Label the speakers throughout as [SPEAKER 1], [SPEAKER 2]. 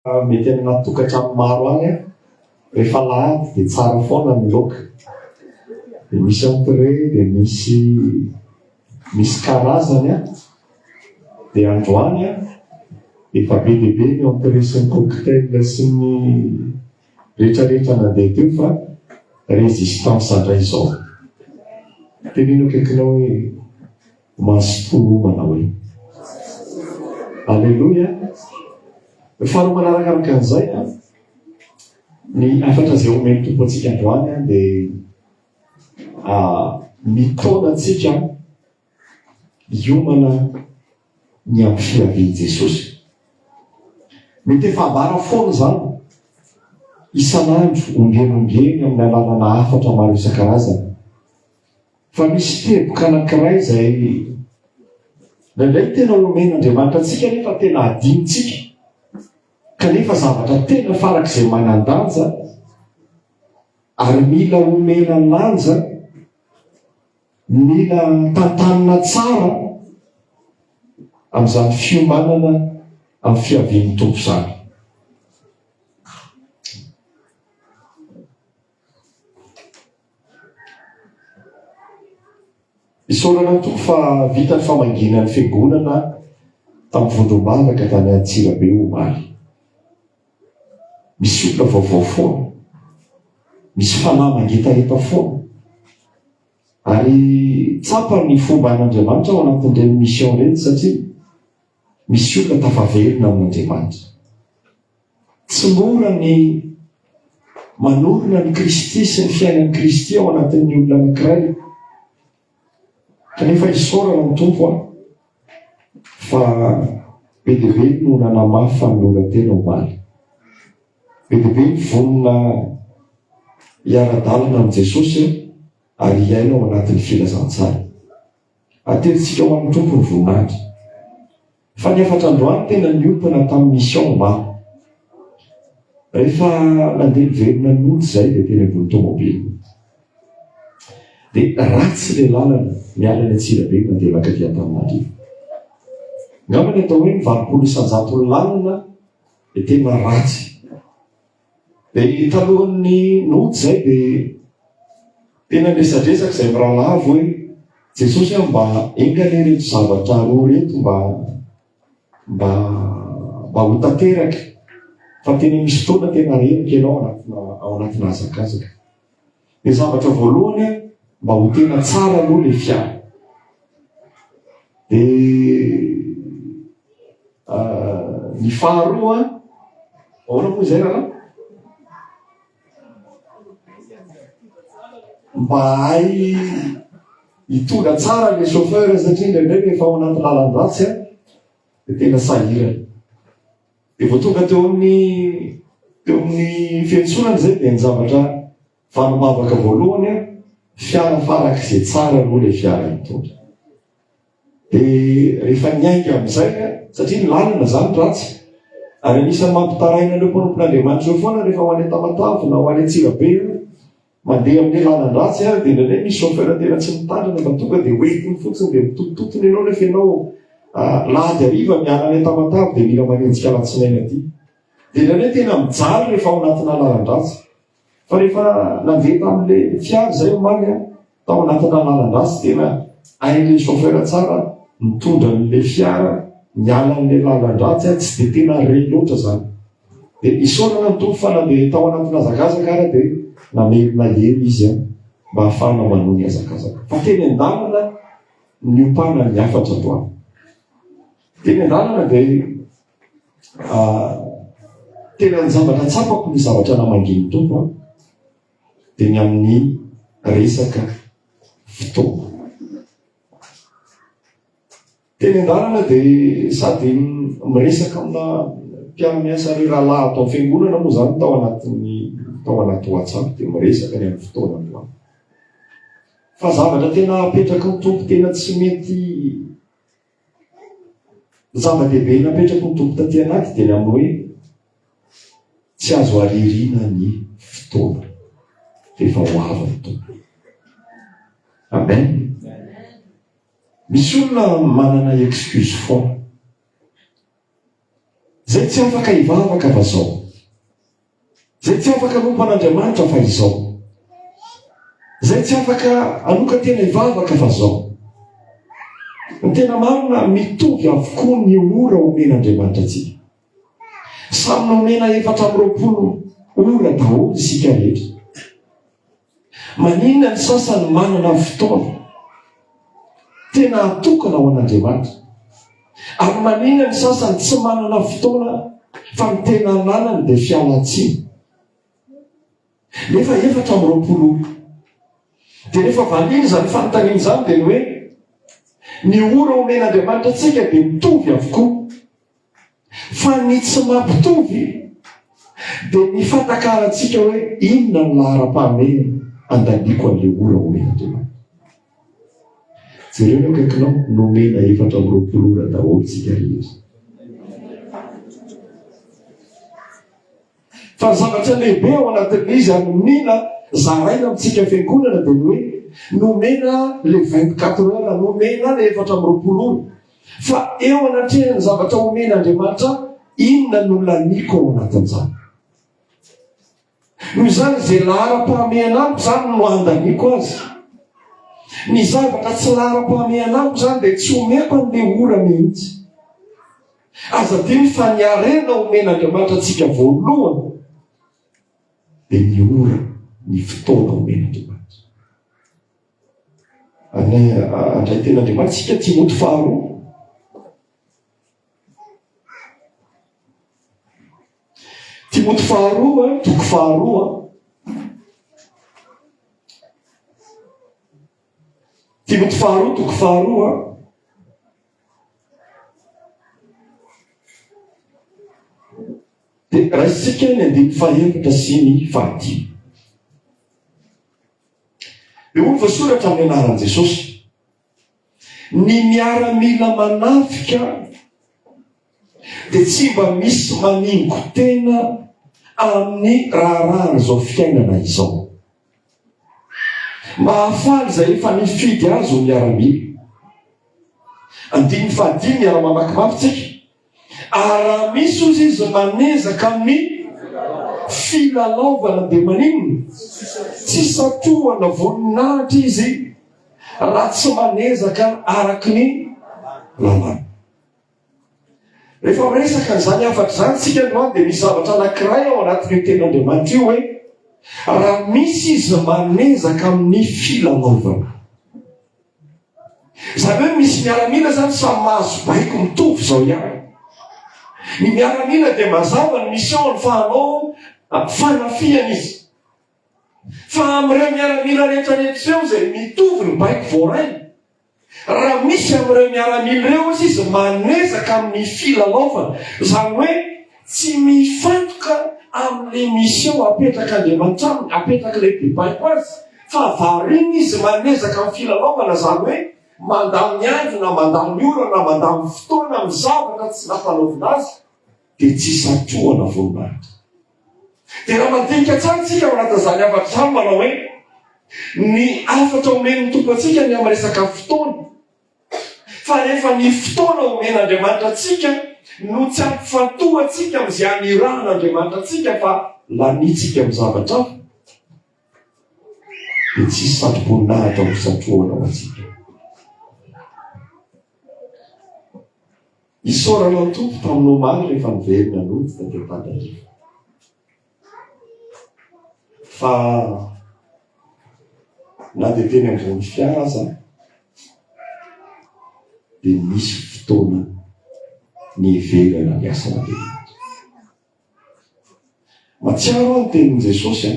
[SPEAKER 1] Mety amina tokantrano maro any an! Rehefa alahady dia tsara foana ny loaka. Dia misy entrée, dia misy misy karazany an! Dia androany an! Efa be dia be ny entrée sy ny cocktail sy ny rehetrarehetra nandeha teo fa résistance indray izao. Teneno akaikinao hoe. Mazotoa moa manao hoe. Aleloia! Faharoa manarakaraka an'izay, ny hafatra izay omen'ny tompo antsika androany an, dia mitaona antsika hiomana ny amin'ny fiavian'i Jesosy. Mety efa ambara foana izany, isan'andro, ombieny ombieny amin'ny alalana hafatra maro isan-karazany. Fa misy teboka anankiray izay indraindray tena omen'Andriamanitra antsika nefa tena adinontsika, kanefa zavatra tena farak'izay manan-danja ary mila omena lanja, mila tantanina tsara amin'izany fiomanana amin'ny fiavian'ny Tompo izany. Isaorana ny Tompo fa vita ny famangiana ny fiangonana tamin'ny vondrom-bavaka tany Antsirabe omaly. Misy olona vaovao foana, misy fanahy mangetaheta foana. Ary tsapa ny fomba an'Andriamanitra ao anatin'ireny mission ireny satria Misy olona tafaverina amin'Andriamanitra. Tsy mora ny manorina an'i Kristy sy ny fiainan'i Kristy ao anatin'ny olona anankiray. Kanefa isaorana ny Tompo an, fa be dia be no nanamafy fanoloran-tena omaly. Be dia be ny vonona hiara-dalana amin'i Jesosy ary hiaina ao anatin'ny filazantsara. Aterintsika ho amin'ny Tompo ny voninahitra. Fa ny efatra androany tena niompana tamin'ny mission omaly. Rehefa nandeha niverina ny mody izay dia teny ambony tomobily. Dia ratsy ilay lalana miala any Antsirabe mandeha mankaty Antananarivo. Angamba ny atao hoe ny valopolo isanjaton'ny lalana dia tena ratsy. Dia talohan'ny nody izay dia tena niresadresaka izay miralavo hoe Jesosy aho mba enga anie ireto zavatra roa ireto mba mba mba ho tanteraka fa tena misy fotoana tena reniko ianao anatina ao anatina hazakazaka. Ny zavatra voalohany a, mba ho tena tsara aloha le fiara. De ah, ny faharoa, ahoana moa izay raha? Mba hay hitondra tsara le chauffeur satria indraindray rehefa ao anaty lalan-dratsy a, de tena sahirana. Dia vao tonga teo amin'ny teo amin'ny fiantsoana izay dia ny zavatra vanim-bavaka voalohany an, fiara farak'izay tsara aloha ilay fiara nitondra. Dia rehefa niainga amin'izay an, satria ny lalana izany ratsy, ary anisan'ny mampitaraina an'ireo mpanompon'Andriamanitra ireo foana rehefa ho any Tamatave na ho any Antsirabe io, Mandeha amin'ny lalan-dratsy ary dia indraindray misy chauffeur tena tsy mitandrina fa tonga dia hoentiny fotsiny dia mitotototona ianao nefa ianao lahady hariva miala any Tamatave dia mila manenjika alatsinainy aty. Dia indraindray tena mijaly rehefa ao anatina lalan-dratsy. Fa rehefa nandeha tamin'ilay fiara izay omaly aho, tao anatina lalan-dratsy tena hain'ilay chauffeur tsara mitondra an'ilay fiara miala an'ilay lalan-dratsy, tsy dia tena re loatra izany. Dia isaorana ny Tompo fa na dia tao anatin'ny hazakazaka ara dia namerina hery izy an, mba hahafahana manohy ny hazakazaka. Fa teny an-dalana niompana ny hafatra androany. Teny an-dalana dia ah, tena ny zavatra tsapako ny zavatra namangin'ny Tompo an, dia ny amin'ny resaka fotoana. Teny an-dalana dia sady miresaka amina mpiara-miasa ry rahalahy ato amin'ny fiangonana moa izany tao anatin'ny tao anaty WhatsApp dia miresaka ny amin'ny fotoana androany. Fa zavatra tena hapetraky ny tompo tena tsy mety zava-dehibe napetraky ny tompo taty anaty dia ny amin'ny hoe tsy azo aririna ny fotoana dia efa ho avy ny tompo. Amen. Misy olona manana excuse foana. Zay tsy afaka hivavaka fa zao. Zay tsy afaka hanompo an'Andriamanitra fa izao. Zay tsy afaka hanokan-tena hivavaka fa zao. Ny tena marina mitovy avokoa ny ora omen'Andriamanitra antsika. Samy nomena efatra amby roapolo ora daholo isika rehetra. Maninona ny sasany manana fotoana tena atokana ho an'Andriamanitra, ary maninona ny sasany tsy manana fotoana fa ny tena ananany dia fialantsiny? Nefa efatra amby roapolo ora. Dia rehefa valiana izany fanontaniana izany dia ny hoe ny ora omen'Andriamanitra antsika dia mitovy avokoa. Fa ny tsy mampitovy dia ny fatakarantsika hoe inona ny laharam-pahamehana andaniako an'ilay ora ho ela teo amiko. Jereo ny eo akaikinao, nomena efatra amby roapolo ora daholo isika rehetra. Fa ny zavatra lehibe ao anatin'izy ary mila zaraina amintsika fiangonana dia ny hoe nomena le vingt quatre heures, nomena le efatra amby roapolo ora. Fa eo anatrehan'ny zavatra homena Andriamanitra, inona no laniako ao anatin'izany? Noho izany izay laharam-pahamehana amiko izany no andaniako azy. Ny zavatra tsy laharam-pahamehana amiko izany dia tsy omeko an'ilay ora mihitsy. Aza adino fa ny harena omen'Andriamanitra antsika voalohany dia ny ora, ny fotoana omen'Andriamanitra. Andray ten'Andriamanitra isika, Timoty faharoa. Timoty faharoa, toko faharoa. Timoty faharoa, toko faharoa. Dia raisintsika ny andininy fahenina sy ny fahadimy. Dia hoy ny voasoratra amin'ny anaran'i Jesosy, ny miaramila manafika dia tsy mba misy maningo tena amin'ny raharahan'izao fiainana izao. Mahafaly izay efa nifidy azy ho miaramila. Andininy fahadimy, miara-mamaky mafy tsika. Ary raha misy ozy izy manezaka amin'ny filalaovana dia maninona? Tsy satohana voninahitra izy raha tsy manezaka araka ny lalàna. Rehefa miresaka an'izany hafatra izany isika androany dia misy zavatra anankiray ao anatin'io teny Andriamanitra io hoe raha misy izy manezaka amin'ny filalaovana. Izany hoe misy miaramila izany samy mahazo baiko mitovy izao ihany. Ny miaramila dia mazava ny misiôny fa hanao ah, fanafihana izy. Fa amin'ireo miaramila rehetra rehetra ireo izay mitovy ny baiko voarainy, Raha misy amin'ireo miaramila ireo, hoy izy, manezaka amin'ny filalaovana, izany hoe tsy mifantoka amin'ilay mission apetrak'Andriamanitra aminy, apetrak'ilay bebaiko azy, fa variana izy manezaka amin'ny filalaovana, izany hoe mandany andro na mandany ora na mandany fotoana amin'ny zavatra tsy nampanaovina azy, dia tsy hisantohana vonim-baratra. Dia raha mandinika tsara isika ao anatin'izany hafatra izany, manao hoe ny hafatra omen'ny Tompo antsika ny amin'ny resaka fotoana, fa rehefa ny fotoana omen'Andriamanitra antsika no tsy hampifantoha antsika amin'izay anirahan'Andriamanitra antsika fa lanintsika amin'ny zavatra hafa, dia tsy hisy satroboninahitra ho santrohana ho antsika. Isaorana ny Tompo tamin'ny omaly rehefa niverina nody taty Ampadariva fa na dia teny Andranofiara aza dia nisy fotoana niheverana ny asan'Andriamanitra. Matsiaro aho ny tenin'i Jesosy an,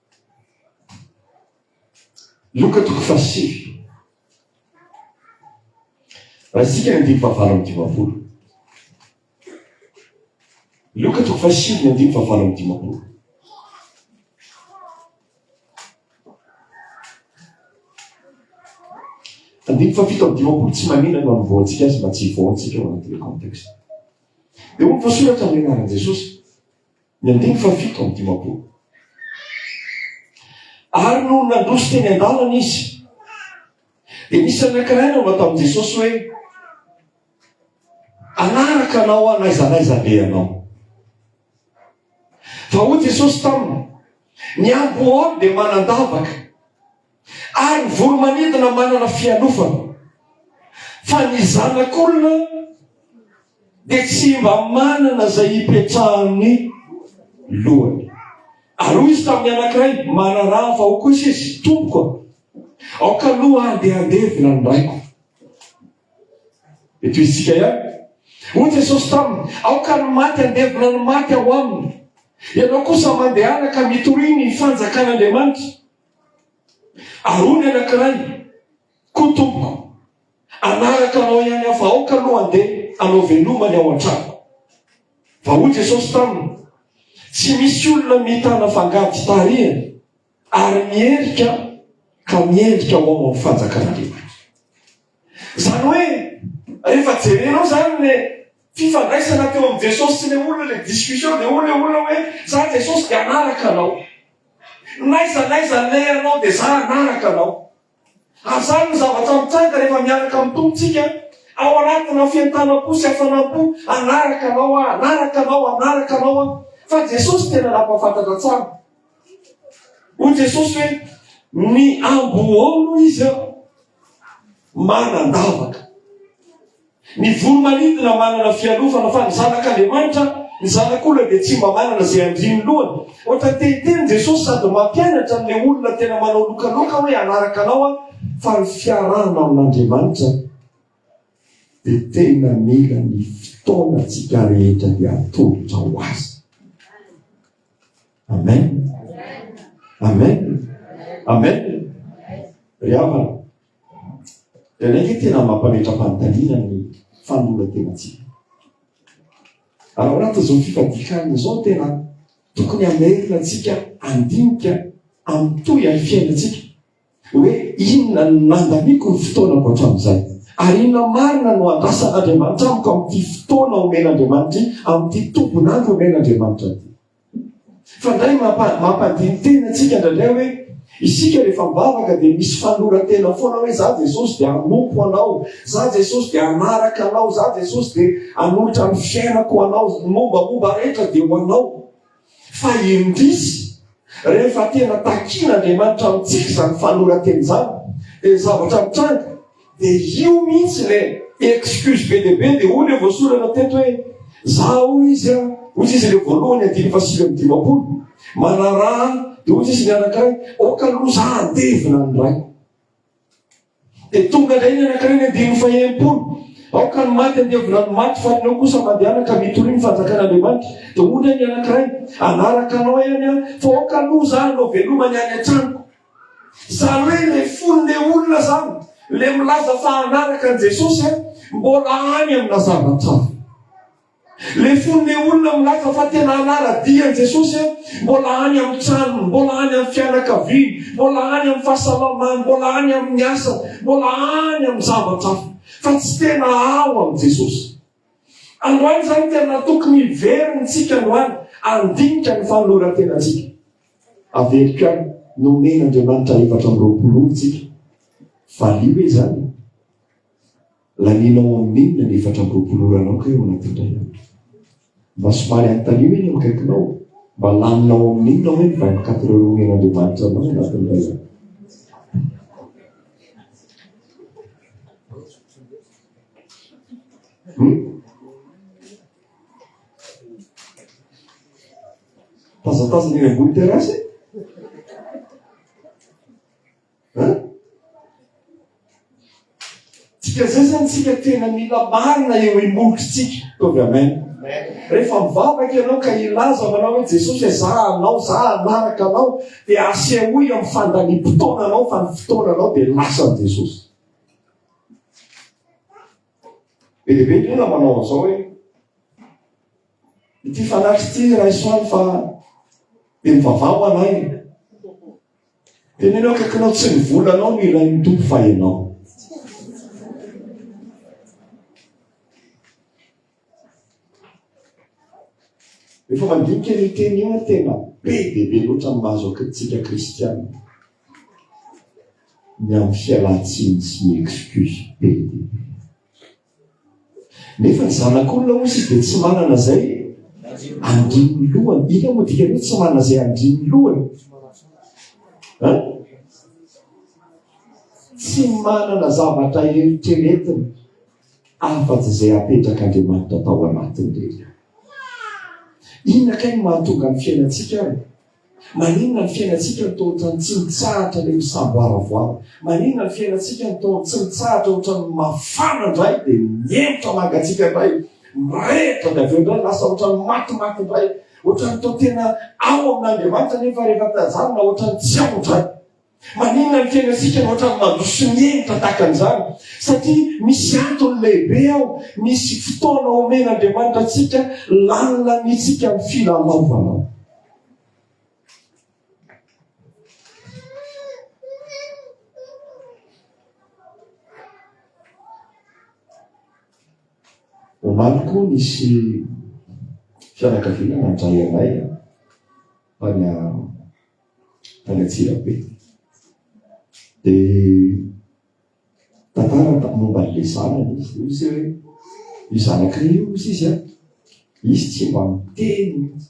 [SPEAKER 1] Loka toko fahasivy, raha isika ny andininy fahavalo amby dimampolo. Loka toko fahasivy ny andininy fahavalo amby dimampolo. Andininy fahafito amby dimampolo tsy manina no anombohantsika azy mba tsy hivoantsika ao anatin'ny contexte. Dia hoy ny voasoratra amin'ny anaran'i Jesosy. Ny andininy fahafito amby dimampolo. Ary nony nandroso teny an-dalana izy, dia nisy any ankiray nanao tamin'i Jesosy hoe, Anaraka anao aho n'aiza n'aiza andehanao. Fa hoy Jesosy taminy, Ny ambohoany dia manan-davaka. Ary ny voromanidina manana fialofana, fa ny zanak'olona dia tsy mba manana izay hipetrahan'ny lohany. Ary hoy izy tamin'ny anankiray, manaraha fa ho kosa izy, tompoko, aoka aloha aho dia handevina ny raiko. Eto izintsika ihany. Hoy Jesosy taminy, aoka ny maty handevina ny maty ao aminy. Ianao kosa mandehana ka mitoria ny fanjakan'Andriamanitra. Aroa ny anankiray, koa tompoko, hanaraka anao ihany aho, fa aoka aloha handeha hanao veloma ny ao an-tranoko. Fa hoy Jesosy taminy, Tsy misy olona mitana fangady tarehiny ary miherika ka miendrika ho ao amin'ny fanjakan'Andriamanitra. Izany hoe, rehefa jerenao izany ilay fifandraisana teo amin'i Jesosy sy ilay olona, ilay discussion, dia hoy ilay olona hoe, izaho Jesosy dia hanaraka anao. N'aiza n'aiza handeha ianao dia izaho hanaraka anao. Ary izany no zavatra mitranga rehefa miaraka amin'ny Tompo tsika, ao anatina fientanam-po sy hafanam-po, hanaraka anao aho, hanaraka anao, hanaraka anao aho. Fa Jesosy tena nampahafantatra tsara. Hoy Jesosy hoe, ny ambohoao no izy aho. manan-davaka. Ny voro-manidina manana fialofana, fa ny zanak'Andriamanitra, ny zanak'olona dia tsy mba manana izay handrian'ny lohany. Ohatra tehiteny Jesosy sady mampianatra an'ilay olona tena manao lokaloka hoe hanaraka anao aho, fa ny fiarahana amin'Andriamanitra dia tena mila ny fotoanantsika rehetra dia atolotra ho azy. Amen. Amen. Amen. Ry havana. Dia naiky tena mampametra-panontaniana ny fanoloran-tenantsika. Ary ao anatin'izao fifadikanina izao tena tokony hamerina antsika andinika amin'ny toy amin'ny fiainantsika. Hoe inona no nandaniako ny fotoanako hatramin'izay? Ary inona marina no andrasan'Andriamanitra amiko amin'ity fotoana omen'Andriamanitra ity, amin'ity tombon'andro omen'Andriamanitra ity? Fandrainy mampandiny tena antsika indraindray hoe isika rehefa mivavaka dia misy fanoloran-tena foana hoe za Jesosy dia hanompo anao, za Jesosy dia hanaraka anao, za Jesosy dia hanolotra ny fiainako anao, ny mombamomba rehetra dia ho anao. Fa indrisy rehefa tena takian'Andriamanitra amintsika izany fanoloran-tena izany dia ny zavatra mitranga Dia io mihitsy ilay excuse be dia be, dia hoy ilay voasorana teto hoe, za hoy izy an, hoy izy ilay voalohany andininy fahasivy amby dimampolo, manaraha, dia hoy izy ny anankiray, ok aloha za handevina ny ray. Dia tonga indray ny anankiray ny andininy fahenimpolo, aoka ny maty handevina ny maty fa ny eo kosa mandehana ka mitoria ny fanjakan'Andriamanitra. Dia hoy indray ny anankiray, anaraka anao ihany an, fa ok aloha za hanao veloma ny any an-tranoko. Zany hoe ilay fon'ilay olona izany, ilay milaza fa hanaraka an'i Jesosy aho, mbola any amina zavatra hafa. Ilay fon'ilay olona milaza fa tena hanara-dia an'i Jesosy aho, mbola any amin'ny tranony, mbola any amin'ny fianakaviany, mbola any amin'ny fahasalamany, mbola any amin'ny asany, mbola any amin'ny zavatra hafa. Fa tsy tena ao amin'i Jesosy. Androany izany tena tokony hiverina isika androany ary handinika ny fanoloran-tenantsika. Averiko ihany, nomen'Andriamanitra efatra amby roapolo ora isika. Valio ve izany? Lanianao amin'inona ny efatra amby roapolo oranao kay ao anaty indray andro? Mba somary anontanio eny amin'ny akaikinao, mba laninao amin'inona hoe ny vingt-quatre heures omen'Andriamanitra anao ao anatin'ny iray andro? Tazatazana eny ambony terasy e. Tsika zay zany tsika tena mila marina eo imolotritsika. Tovy amen. Rehefa mivavaka ianao ka ilaza manao hoe Jesosy e, za anao, za anaraka anao, dia asehoy amin'ny fandaniam-potoana anao fa ny fotoana anao dia lasan'i Jesosy. Be dia be ny olona manao an'izao hoe ity fanaky ity raisoany fa dia mivavaha ho anay. Tenenao akakinao tsy ny volanao no ilain'ny tompo fa ianao. Rehefa mandinika io teny io aho tena be dia be loatra ny mahazo antsika kristiana. Ny amin'ny fialan-tsiny sy ny excuse be dia be. Nefa ny zanak'olona hoy izy dia tsy manana izay andrin'ny lohany. Inona moa dikany hoe tsy manana izay andrin'ny lohany? Ha? Tsy manana zavatra eritreretina. afa-tsy izay apetrak'Andriamanitra tao anatiny re ry ahy. Inona kay no mahatonga ny fiainantsika ary? Maninona ny fiainantsika no toa ohatran'ny tsy mitsahatra ilay misamboaravoara? Maninona ny fiainantsika no toa tsy mitsahatra ohatran'ny mafana indray dia mihemotra mangatsiaka indray, mirehitra dia avy eo indray lasa ohatran'ny matimaty indray, ohatran'ny toa tena ao amin'Andriamanitra nefa rehefa tazanina ohatran'ny tsy ao indray? Maninona ny fiainantsika ohatran'ny mandroso ny enta tahaka an'izany? Satria misy antony lehibe ao, misy fotoana omen'Andriamanitra antsika lanilanintsika amin'ny filalaovana. Omaly koa nisy fianakaviana nandray anay tany tany Antsirabe. Dia tantara momba an'ilay zanany izy, hoy izy hoe io zanakay io hoy izy a, izy tsy mba miteny mihitsy.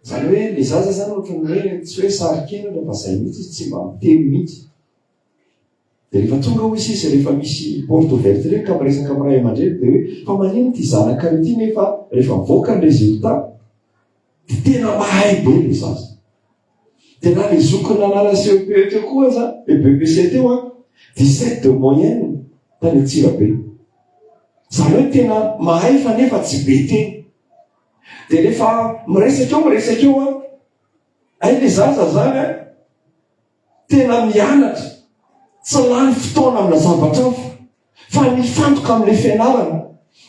[SPEAKER 1] Izany hoe ilay zaza izany ohatran'ny hoe tsy hoe saro-kenatra fa izay mihitsy izy tsy mba miteny mihitsy. Dia rehefa tonga hoy izy izy rehefa misy porte ouverte ireny ka miresaka amin'ny ray aman-dreny dia hoe fa manino ity zanakay ity nefa rehefa mivoaka ny résultat Dia tena mahay be ny zaza. Dia na ny zokiny nanala CEPE teo koa aza, e BEPC teo an, 17 de moyenne tany Antsirabe. Izany hoe tena mahay fa nefa tsy be teny. Dia rehefa miresaka eo miresaka eo an, hay ny zaza izany an, tena mianatra, tsy lany fotoana amina zavatra hafa fa mifantoka amin'ilay fianarana,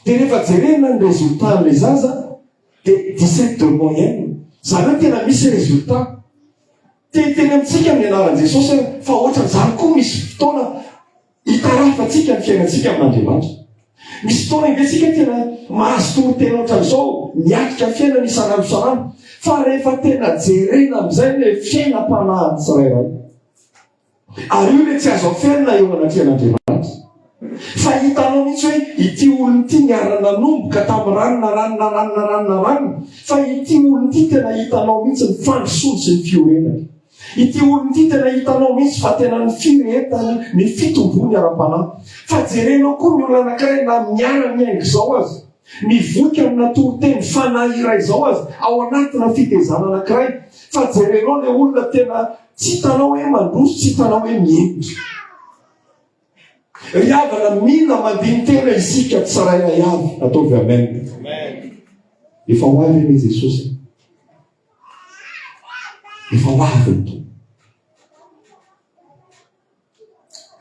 [SPEAKER 1] dia rehefa jerena ny résultat an'ilay zaza dia dix sept de moyenne, izany hoe tena misy résultat. Te hiteny amintsika ny anaran'i Jesosy aho fa ohatran'izany koa misy fotoana Itarafantsika ny fiainantsika amin'Andriamanitra. Misy fotoana iventsika tena mahazo toriteny ohatran'izao miatrika ny fiainana isan'andro isan'andro, fa rehefa tena jerena amin'izay ilay fiainam-panahin'ny tsirairay, ary io ilay tsy azo aferina eo anatrehan'Andriamanitra, fa hitanao mihitsy hoe ity olona ity niara-nanomboka tamin'ny ranona, ranona, ranona, ranona, ranona, fa ity olona ity tena hitanao mihitsy ny fandrosoany sy ny fiorenany. Ity olona ity tena hitanao mihitsy fa tena ny firehetany ny fitomboany ara-panahy. Fa jerenao koa ny olona anankiray na miara miainga izao aza, mivoika amina toriteny fanahy iray izao aza, ao anatina fitezana anankiray. Fa jerenao ilay olona tena tsy hitanao hoe mandroso, tsy hitanao hoe mihemotra. Ry havana, mila mandini-tena isika tsirairay avy. Ataovy amen. Efa ho avy anie Jesosy. Efa ho avy ny Tompo.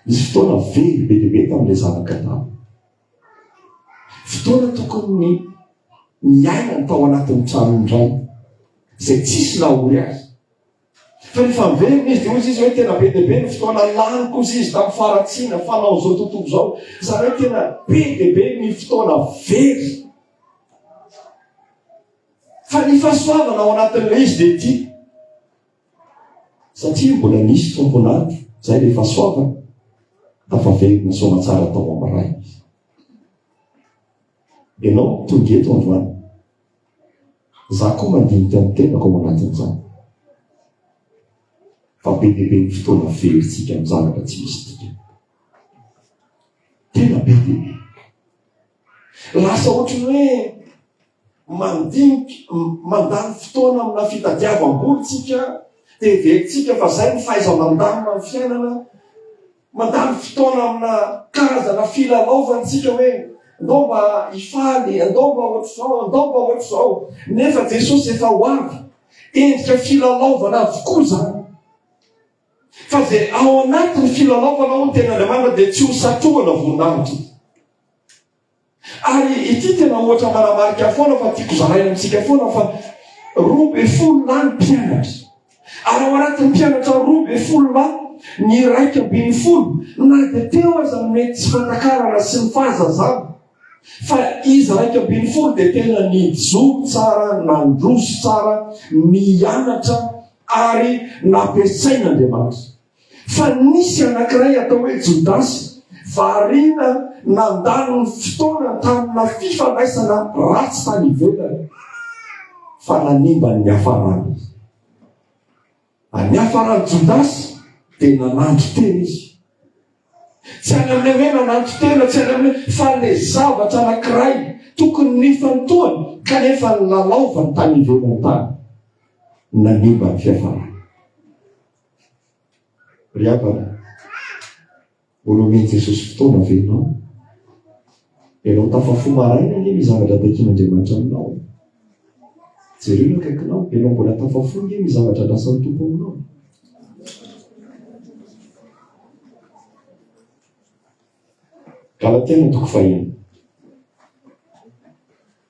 [SPEAKER 1] Nisy fotoana very be dia be tamin'ilay zanaka tany. Fotoana tokony ny niainany tao anatin'ny tranon'ny rainy, izay tsisy nahory azy. Fa rehefa miverina izy dia hoy izy hoe tena be dia be ny fotoana laniko hoy izy tamin'ny faharatsiana fanao izao tontolo izao. Izany hoe tena be dia be ny fotoana very. Fa ny fahasoavana ao anatin'ilay izy dia ity. Satria mbola nisy tompon'ady, izay ilay fahasoavana, tafaverina soamatsara tao amin'ny ray. Ianao tonga eto androany. Za koa mandinika ny tenako ao anatin'izany. Fa be dia be ny fotoana velontsika amin'ny zavatra tsy misy dika. Tena be dia be. Lasa ohatry ny hoe Mandinika, mandany fotoana amina fitadiavam-bola tsika, dia heverintsika fa izay no fahaiza-mandamina ny fiainana. Mandany fotoana amina karazana filalaovana tsika hoe andao mba hifaly, andao mba ohatr'izao, andao mba ohatr'izao. Nefa Jesosy efa ho avy. Endrika filalaovana avokoa izany. Fa izay ao anatin'ny filalaovana ao ny tenin'Andriamanitra dia tsy ho satrohana voninahitra. Ary ity tena ohatra manamarika foana fa tiako zaraina amintsika foana fa roa be folo lahy ny mpianatra. Ary ao anatin'ny mpianatra roa be folo lahy, ny iraika ambin'ny folo na dia teo aza ny mety tsy fatakarana sy ny fahazazana, fa izy iraika ambin'ny folo dia tena nijoro tsara, nandroso tsara, nianatra ary nampiasain'Andriamanitra. Fa nisy anankiray atao hoe Jodasy, variana nandany ny fotoana tamina fifandraisana ratsy tany ivelany, fa nanimba ny niafarany izy. Ary niafaran'i Jodasy, dia nananto tena izy. Tsy any amin'ilay hoe nananto tena, tsy any amin'ilay, fa le zavatra anankiray tokony nifantohany, kanefa nilalaovany tany ivelany tany, nanimba ny fiafarany. Ry havana, mbola omen'i Jesosy fotoana ve ianao? Ianao tafafo maraina ange ny zavatra takin'Andriamanitra aminao. Jereo ny akaikinao, ianao mbola tafafo ange ny zavatra andrasan'ny Tompo aminao. Galatiana toko fahiny.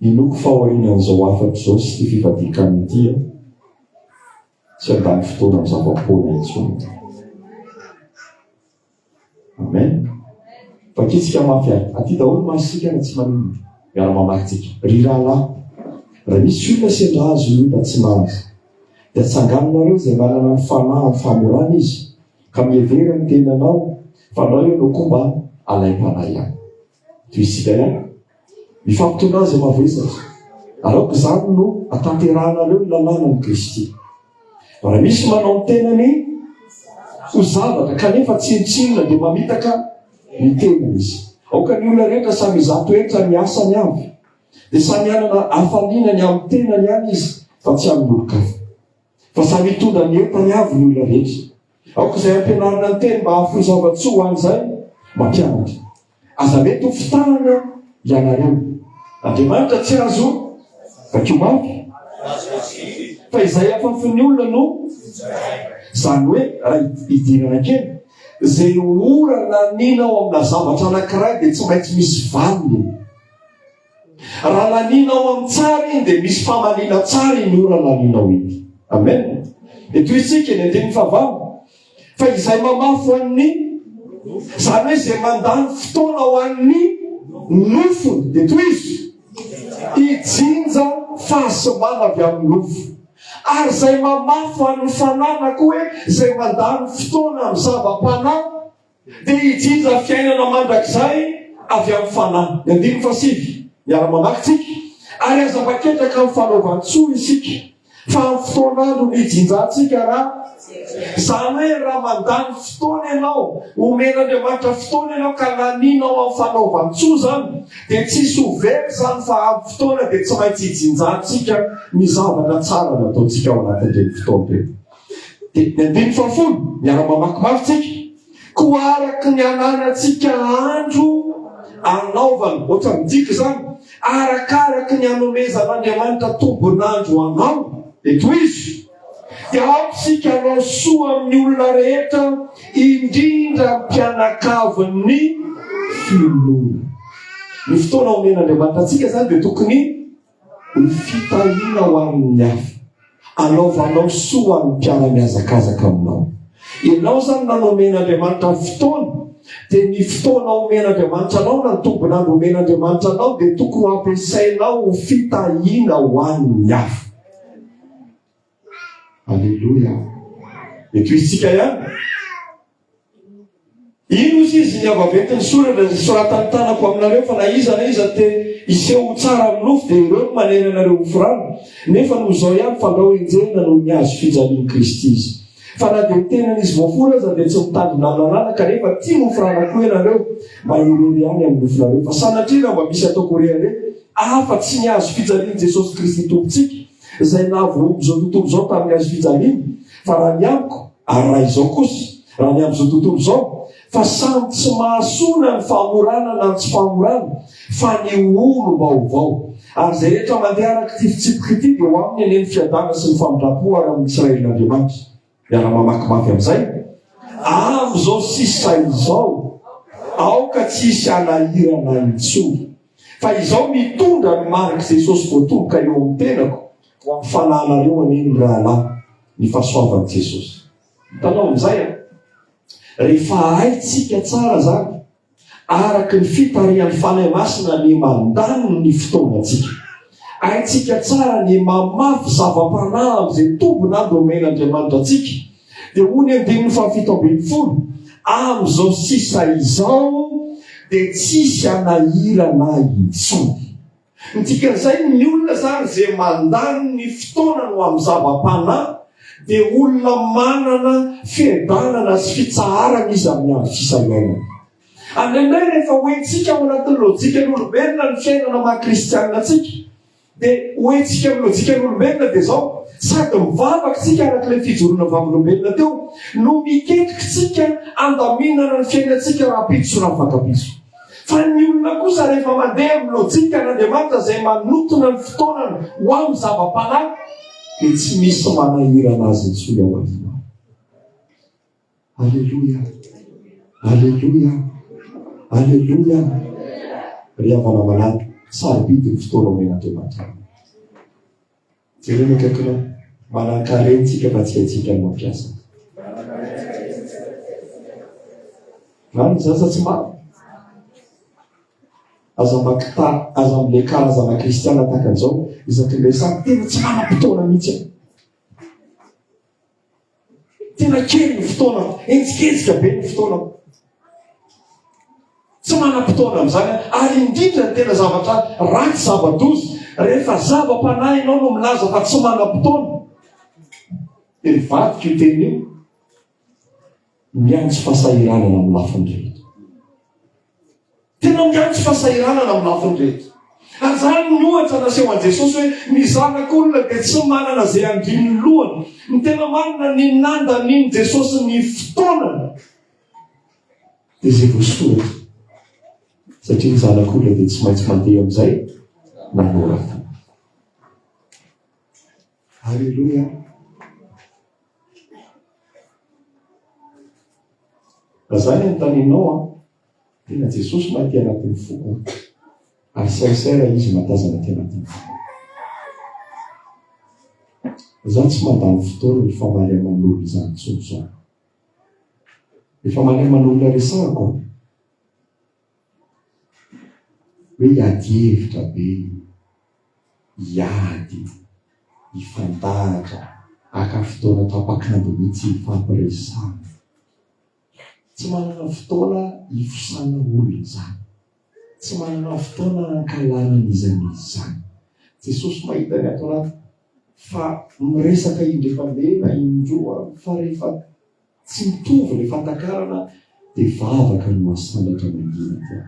[SPEAKER 1] Ny loko fahorianan'izao hafatra izao sy ity fifadian-kanina ity an! Tsy handany fotoana amin'ny zava-poana intsony. Amen. Vakitsika mafy ary. Aty daholo masontsika na tsy maninona. Miara-mamaky tsika. Ry rahalahy, raha misy olona sendra azon'ny ota tsy mahaza, dia tsanganinareo izay manana ny fanahy amin'ny famorana izy, ka mihevera ny tenanao fa anao ianao koa mba alaim-panahy ihany. Toy isika ihany. Mifampitondra azy mavesatra. Araoka izany no atanterahanareo ny lalànan'i Kristy. Raha misy manao ny tenany ho zavatra kanefa tsinontsinona dia mamitaka ny tenany izy. Aoka ny olona rehetra samy izato hetra ny asany avy. Dia samy hanana hafaliana ny amin'ny tenany ihany izy fa tsy amin'olon-kafa. Fa samy hitondra ny entany avy ny olona rehetra. Aoka izay ampianarina ny teny mba hahafoy zava-tsoa ho an'izay mampianatra. Aza mety ho fitahana ianareo. Andriamanitra tsy azo vakio mafy. Fa izay afafin'ny olona no Izany hoe, raha hidirana kely, izay ho ora naninao amina zavatra anankiray dia tsy maintsy misy valiny. Raha laninao amin'ny tsara iny dia misy famaliana tsara iny ora laninao iny. Amen. Eto isika ny andininy fahavalo. Fa izay mamafy an'ny izany hoe izay mandany fotoana ho an'ny nofony dia toy izy hijinja fahasimana avy amin'ny nofo. Ary izay mamafy an'ny fananako hoe izay mandany fotoana amin'ny zava-panahy dia hijinja fiainana mandrakizay avy amin'ny Fanahy. Ny andininy fahasivy, miara-mamaky tsika, Ary aza maketraka amin'ny fanaovan-tsoa isika, fa amin'ny fotoan'andro nijinjantsika ra, izany hoe raha mandany fotoana ianao, omen'Andriamanitra fotoana ianao ka laninao amin'ny fanaovan-tsoa izany, dia tsy hisy ho very izany fa amin'ny fotoana dia tsy maintsy hijinjantsika ny zavatra tsara nataontsika ao anatin'ireny fotoana ireny. Dia ny andininy fahafolo, miara-mamaky mafy tsika. Koa araka ny ananantsika andro anaovana, ohatra midika izany, arakaraka ny anomezan'Andriamanitra tombon'andro anao, dia tohizo. Dia aoka isika hanao soa amin'ny olona rehetra, indrindra ny mpianakavin'ny finoana. Ny fotoana omen'Andriamanitra antsika izany dia tokony. Ny fitahiana ho amin'ny hafa. Anaovanao soa ho an'ny mpiara-mihazakazaka aminao. Ianao izany na nomen'Andriamanitra ny fotoana, dia ny fotoana omen'Andriamanitra anao na ny tombon'andro omen'Andriamanitra anao dia tokony ho ampiasainao ho fitahiana ho an'ny hafa. Aleloia. Mety ho isika ihany. Ino izy izy ny avaventy ny soratra izay soratan'ny tanako aminareo fa na iza na iza te hiseho ho tsara amin'ny nofo dia ireo no manery anareo ho firano nefa noho izao ihany fandrao enjehina noho ny azo fijalian'i Kristy izy. Fa na dia ny tenan'izy voafory aza dia tsy mitandrina amin'ny lalàna kanefa tia ho firana koa ianareo mba hirery ihany amin'ny nofonareo. Fa sanatria raha mba misy ataoko rehareha afa-tsy ny azo fijalian'i Jesosy Kristy Tompontsika, izay nahavoaomby izao tontolo izao tamin'ny hazo fijaliana, fa raha ny amiko, ary raha izao kosa, raha ny amin'izao tontolo izao, fa samy tsy mahasoa na ny famorana na ny tsy famorana, fa ny ho olom-baovao. Ary izay rehetra mandeha araka ity fitsipika ity, dia ho aminy anie ny fiadana sy ny famindram-po ary amin'ny Israelin'Andriamanitra. Miara mamaky mafy amin'izay. Amin'izao sisa izao, aoka tsy hisy hanahirana intsony. Fa izaho mitondra ny marik'i Jesosy voatomboka eo amin'ny tenako, ho amin'ny fanahinareo anie ny rahalahy, ny fahasoavan'i Jesosy. Hitanao amin'izay an? Rehefa haintsika tsara izany, Araka ny fitarihan'ny Fanahy Masina ny mandany ny fotoanantsika. Haintsika tsara ny mamafy zava-panahy amin'izay toby na domaine Andriamanitra antsika. Dia hoy ny andininy fahafito ambin'ny folo, Amin'izao sisa izao dia tsisy hanahirana ahy intsony. Ny dikan'izay, ny olona izany izay mandany ny fotoanany ho amin'ny zava-panahy dia olona manana fiadanana sy fitsaharana izy amin'ny andro sisa iainany. Ary indray rehefa hoentsika ao anatin'ny lojikan'olombelona ny fiainana maha kristianina antsika, dia hoentsika amin'ny lojikan'olombelona dia izao, sady mivavaka isika araka ilay fijoroana vavolombelona teo, no miketrika isika handaminana ny fiainantsika rahampitso sy rafakapitso. Fa ny olona kosa rehefa mandeha amin'ny lojikan'Andriamanitra izay manotona ny fotoanany ho amin'ny zava-panahy dia tsy misy manahirana azy intsony ao aoriana. Aleloia! Aleloia! Aleloia! Ry havana malala, sarobidy ny fotoana omen'Andriamanitra anao. Jereo ny akaikinao. Manankarena isika fa tsy haintsika ny mampiasa. Vany ny zaza tsy maro. Aza makita, aza mle karazana kristiana tahaka izao, isaky ny lesany tena tsy manam-potoana mihitsy. Tena kely ny fotoanako, henjikejika be ny fotoanako. Tsy manam-potoana amin'izany ary indrindra ny tena zavatra ratsy zava-doza rehefa zava-panahy ianao no milaza fa tsy manam-potoana. Dia mivadika io teny io, miantso fahasahiranana amin'ny lafiny rehetra. Tena miantso fahasahiranana ny lafiny rehetra. Anzany ny ohatra naseho an'i Jesosy hoe ny zanak'olona dia tsy manana izay handrino ny lohany. Ny tena marina, ny nandanian'i Jesosy ny fotoanany dia izay voasoratra, satria ny zanak'olona dia tsy maintsy mandeha amin'izay nanoratany. Aleloia Zay ny anontanenao an. Tena Jesosy ma aty anatin'ny foko an. Ary sincère izy matazana aty anatin'ny foko. Za tsy mandany fotoana ny famaly aman'olona izany intsony zany. Ny famaly aman'olona resahako an. Hoe hiady hevitra be, hiady, hifandahatra, haka fotoana tapak'andro mihitsy hifampiresahana. Tsy manana fotoana hifosana olona izany. Tsy manana fotoana hankahalana an'iza an'iza. Jesosy mahita ny ato anaty fa miresaka indray mandeha na indroa fa rehefa Tsy mitovy ny fatakarana dia vavaka no mahasandratra mangina dia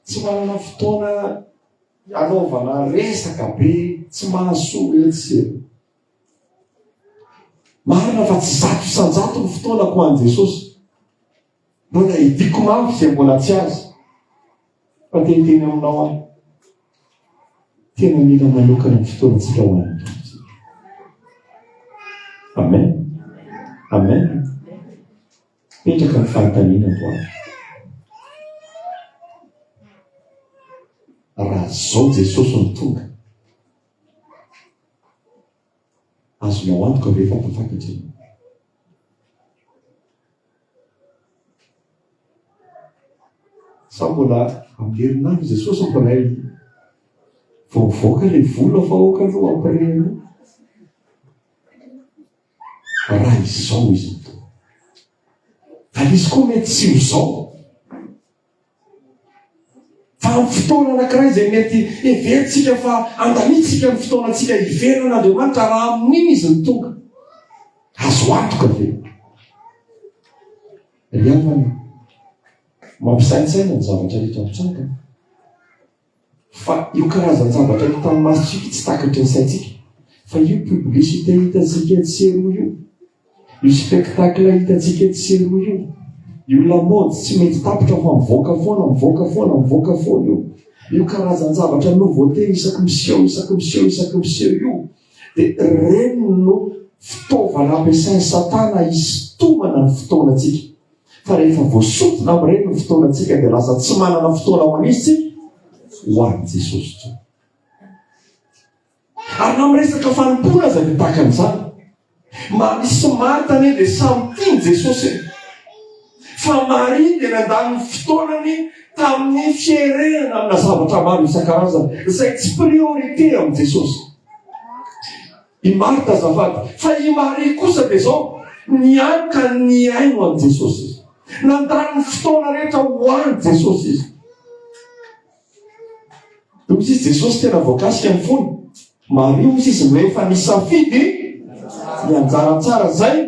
[SPEAKER 1] tsy manana fotoana hanaovana resaka be tsy mahasoa etsy sy eroa. Marina fa tsy zato isan-jato ny fotoanako ho an'i Jesosy. Mbola hidiko mafy izay mbola tsy azo. Fa te hiteny aminao aho, tena mila manokana ny fotoanantsika ho an'ny Tompontsika. Amen. Amen. Petraka ny fanontaniana antoandro. Raha zao Jesosy no tonga, azonao antoka ve fa tafakatra ianao? Sa mbola ampidirina any Jesosy empiray? Vao mivoaka ilay vola fa aoka aloha empiray aloha. Raha izao izy mitoa. Ary izy koa mety tsy ho izao. Vanim-potoana anankiray izay mety heverintsika fa andaniantsika ny fotoanantsika hiverina an'Andriamanitra raha amin'iny Izy no tonga. Azo antoka ve? Ry havana, mampisaintsaina ny zavatra rehetra mitranga. Fa io karazan-javatra hita amin'ny masontsika io tsy takatry ny saintsika. Fa io publicité hitantsika etsy sy eroa io, io spectacle hitantsika etsy sy eroa io, io lamaody tsy mety tapitra fa mivoaka foana, mivoaka foana, mivoaka foana io. Io karazan-javatra nouveauté isaky miseho, isaky miseho, isaky miseho io. Dia ireny no fitaovana ampiasain'i Satana hisintomana ny fotoanantsika. Fa rehefa voasokona amin'ireny ny fotoanantsika dia lasa tsy manana fotoana ho an'izy tsika ho an'i Jesosy intsony. Ary na miresaka fanompoana aza dia tahaka an'izany. Maria sy Marta anie dia samy tia an'i Jesosy e. Fa Maria dia nandany ny fotoanany tamin'ny fierenana amina zavatra maro isan-karazany izay tsy priorité amin'i Jesosy. I Marta azafady. Fa i Maria kosa dia izao, nianka nihaino an'i Jesosy izy. Nandany ny fotoana rehetra ho an'i Jesosy izy. Hoy izy, Jesosy tena voakasika ny fony. Maria hoy izy, rehefa nisafidy ny anjara tsara izay,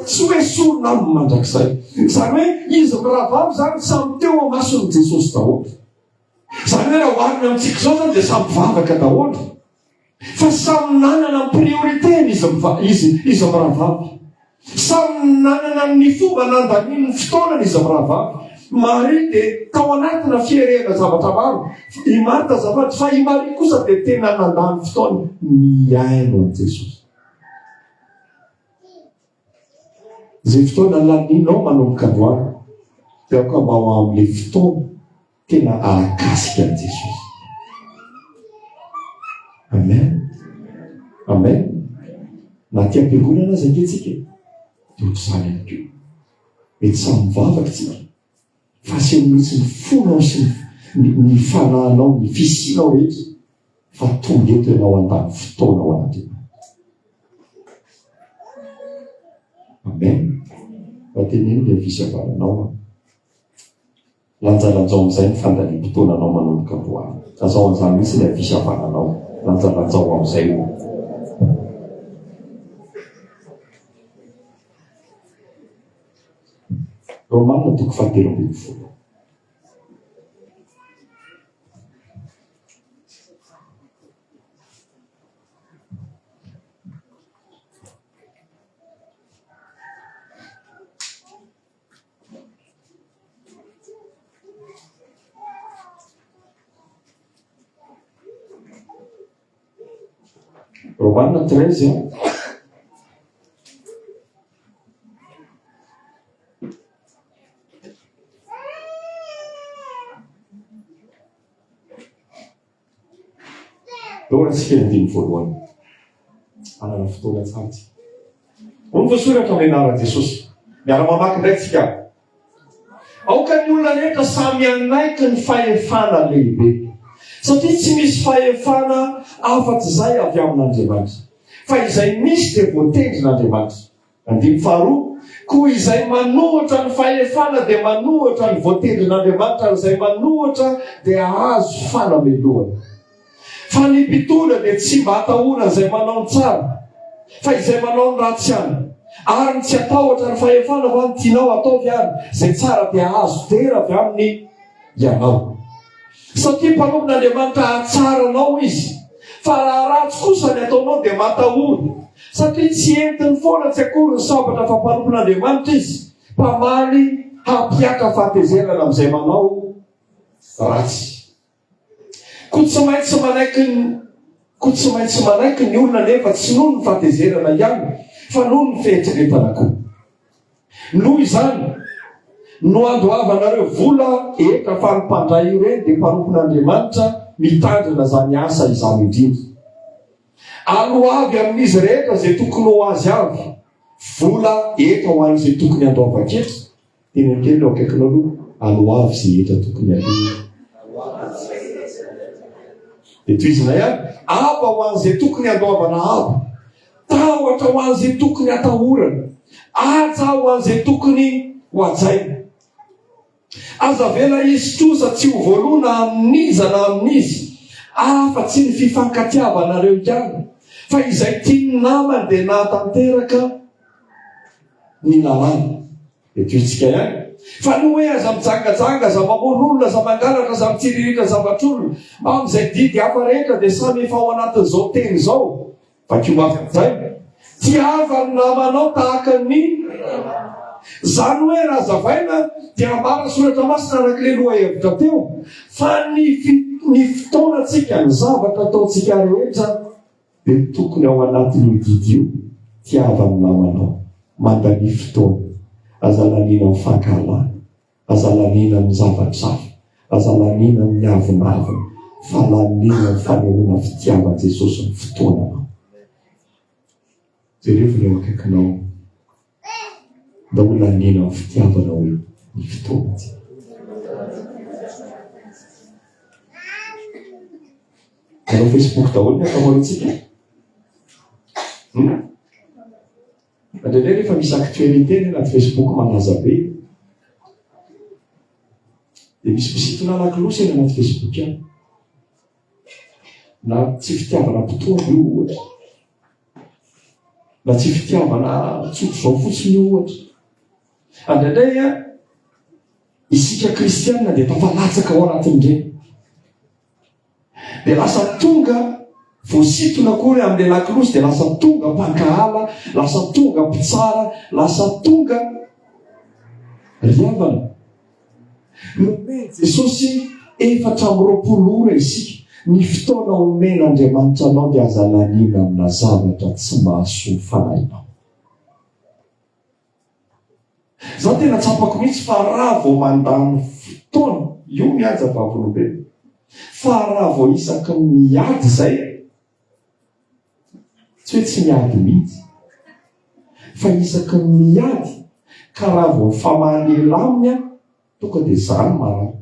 [SPEAKER 1] tsy hoe sorona aminy mandrakizay. Izany hoe izy mirahavavy izany samy teo amason'i Jesosy daholo. Izany hoe raha oharina amintsika izao izany dia samy vavaka daholo. Fa samy nanana ny priorité-ny izy miva- izy, izy mirahavavy. Samy nanana ny fomba nandaniany ny fotoanany izy mirahavavy. Maria dia tao anatina fierehana zavatra maro. I Marta azafady, fa i Maria kosa dia tena nandany fotoany nihaino an'i Jesosy. Izay fotoana lanianao manomboka androany dia aoka mba ho amin'ilay fotoana tena ahakasika an'i Jesosy. Amen. Amen. Na aty am-piangonana aza ankehintsika dia ohatr'izany ihany koa. Mety samy mivavaka isika. Fa aseho mihitsy ny fonao sy ny fanahinao, ny fisianao rehetra fa tonga eto ianao handany fotoana ao anatin'ny Amen. Raha teneno ilay fisavananao an. Lanjalanjao amin'izay ny fandaniam-potoananao manomboka androany. Lazao an'izany mihitsy ilay fisavananao. Lanjalanjao amin'izay o. Romana toko fahatelo ambin'ny folo. Romana treize an. Eo antsika ny dimy voalohany. Anana fotoana tsara tsika. Hoy ny voasoratra amin'ny anaran'i Jesosy. Miara-mamaky indray tsika. Aoka ny olona rehetra samy hanaiky ny fahefana lehibe, satria tsy misy fahefana afa-tsy izay avy amin'Andriamanitra, fa izay misy dia voatendrin'Andriamanitra. Andininy faharoa, Koa izay manohitra ny fahefana dia manohitra ny voatendrin'Andriamanitra, ary izay manohitra dia hahazo fanamelohana. Fa ny mpitondra dia tsy mba atahorany izay manao ny tsara, fa izay manao ny ratsy ihany. Ary ny tsy atahotra ny fahefana fa ny tianao ataovy ary izay tsara dia azo dera avy aminy ianao. Satria mpanompon'Andriamanitra hahatsara anao izy. Fa raha ratsy kosa ny ataonao dia matahory, satria tsy entiny foana tsy akory ny sabatra fa mpanompon'Andriamanitra izy, mpamaly hampiaka fahatezerana amin'izay manao ratsy. Koa tsy maintsy manaiky ny Koa tsy maintsy manaiky ny olona anefa tsy noho ny fahatezerana ihany fa noho ny fieritreretana koa. Noho izany, no andoavanareo vola hetra fa ny mpandray ireny dia mpanompon'Andriamanitra mitandrina izany asa izany indrindra. Aloa avy amin'izy rehetra izay tokony ho azy avy vola hetra ho an'izay tokony handoavan-ketra. Tena kely no akaikinao aloha ary ho avy izay hetra tokony aloha. Dia tohizinay ary, aba ho an'izay tokony handoavana aba, tahotra ho an'izay tokony hatahorana, haja ho an'izay tokony ho hajaina. Aza avela hisy trosa tsy ho voaloana amin'iza na amin'iza, afa-tsy ny fifankatiavanareo ihany, fa izay tian'ny namany dia nahatanteraka ny lalàna. Hetohintsika ihany fa ny hoe aza mijangajanga, aza mamono olona, aza mangalatra, aza mitsiriritra zavatr'olona, amin'izay didy hafa rehetra dia samy efa ao anatin'izao teny izao. Vakio mafy amin'izay, Tiava ny namanao tahaka ny Izany hoe raha hazavaina dia ambara soratra masina arak'ilay lohahevitra teo fa ny ny fotoanantsika, ny zavatra ataontsika rehetra, Be tokony ao anatin io didy io tiava ny namanao mandalia fotoana aza laniana am fankahalana aza laniana am zavatr hafa aza laniana am ny avonavona fa laniana am fanehoana fitiavan jesosy ny fotoananao jerevo ny eo akaikinao Mba ho lalina amin'ny fitiavana hoy ny fotoantsika. Manao Facebook daholo ny ankamaroantsika. Hmm? Indraindray rehefa misy actualité ny anaty Facebook manaza be. Dia misy mpisintona lakilosy eny anaty Facebook ihany. Na tsy fitiavana mpitombo io ohatra. Mba tsy fitiavana tsotra izao fotsiny io ohatra. Andraindray a, isika kristianina dia tafalatsaka ao anatin'ireny. Dia lasa tonga voasitona akory amin'ilay lakolosy dia lasa tonga mpankahala, lasa tonga mpitsara, lasa tonga ry havana. Nomen'i Jesosy efatra amby roapolo ora isika. Ny fotoana omen'Andriamanitra anao dia aza laniana amina zavatra tsy mahasoa ny fanahinao. Izaho tena tsapako mihitsy fa raha vao mandany fotoana, io mihaja vavolombelona, fa raha vao isaky ny miady izay, Tsy hoe tsy miady mihitsy. Fa isaky ny miady, ka raha vao mifamaha lehilahy aminy aho, tonga dia izaho no marary.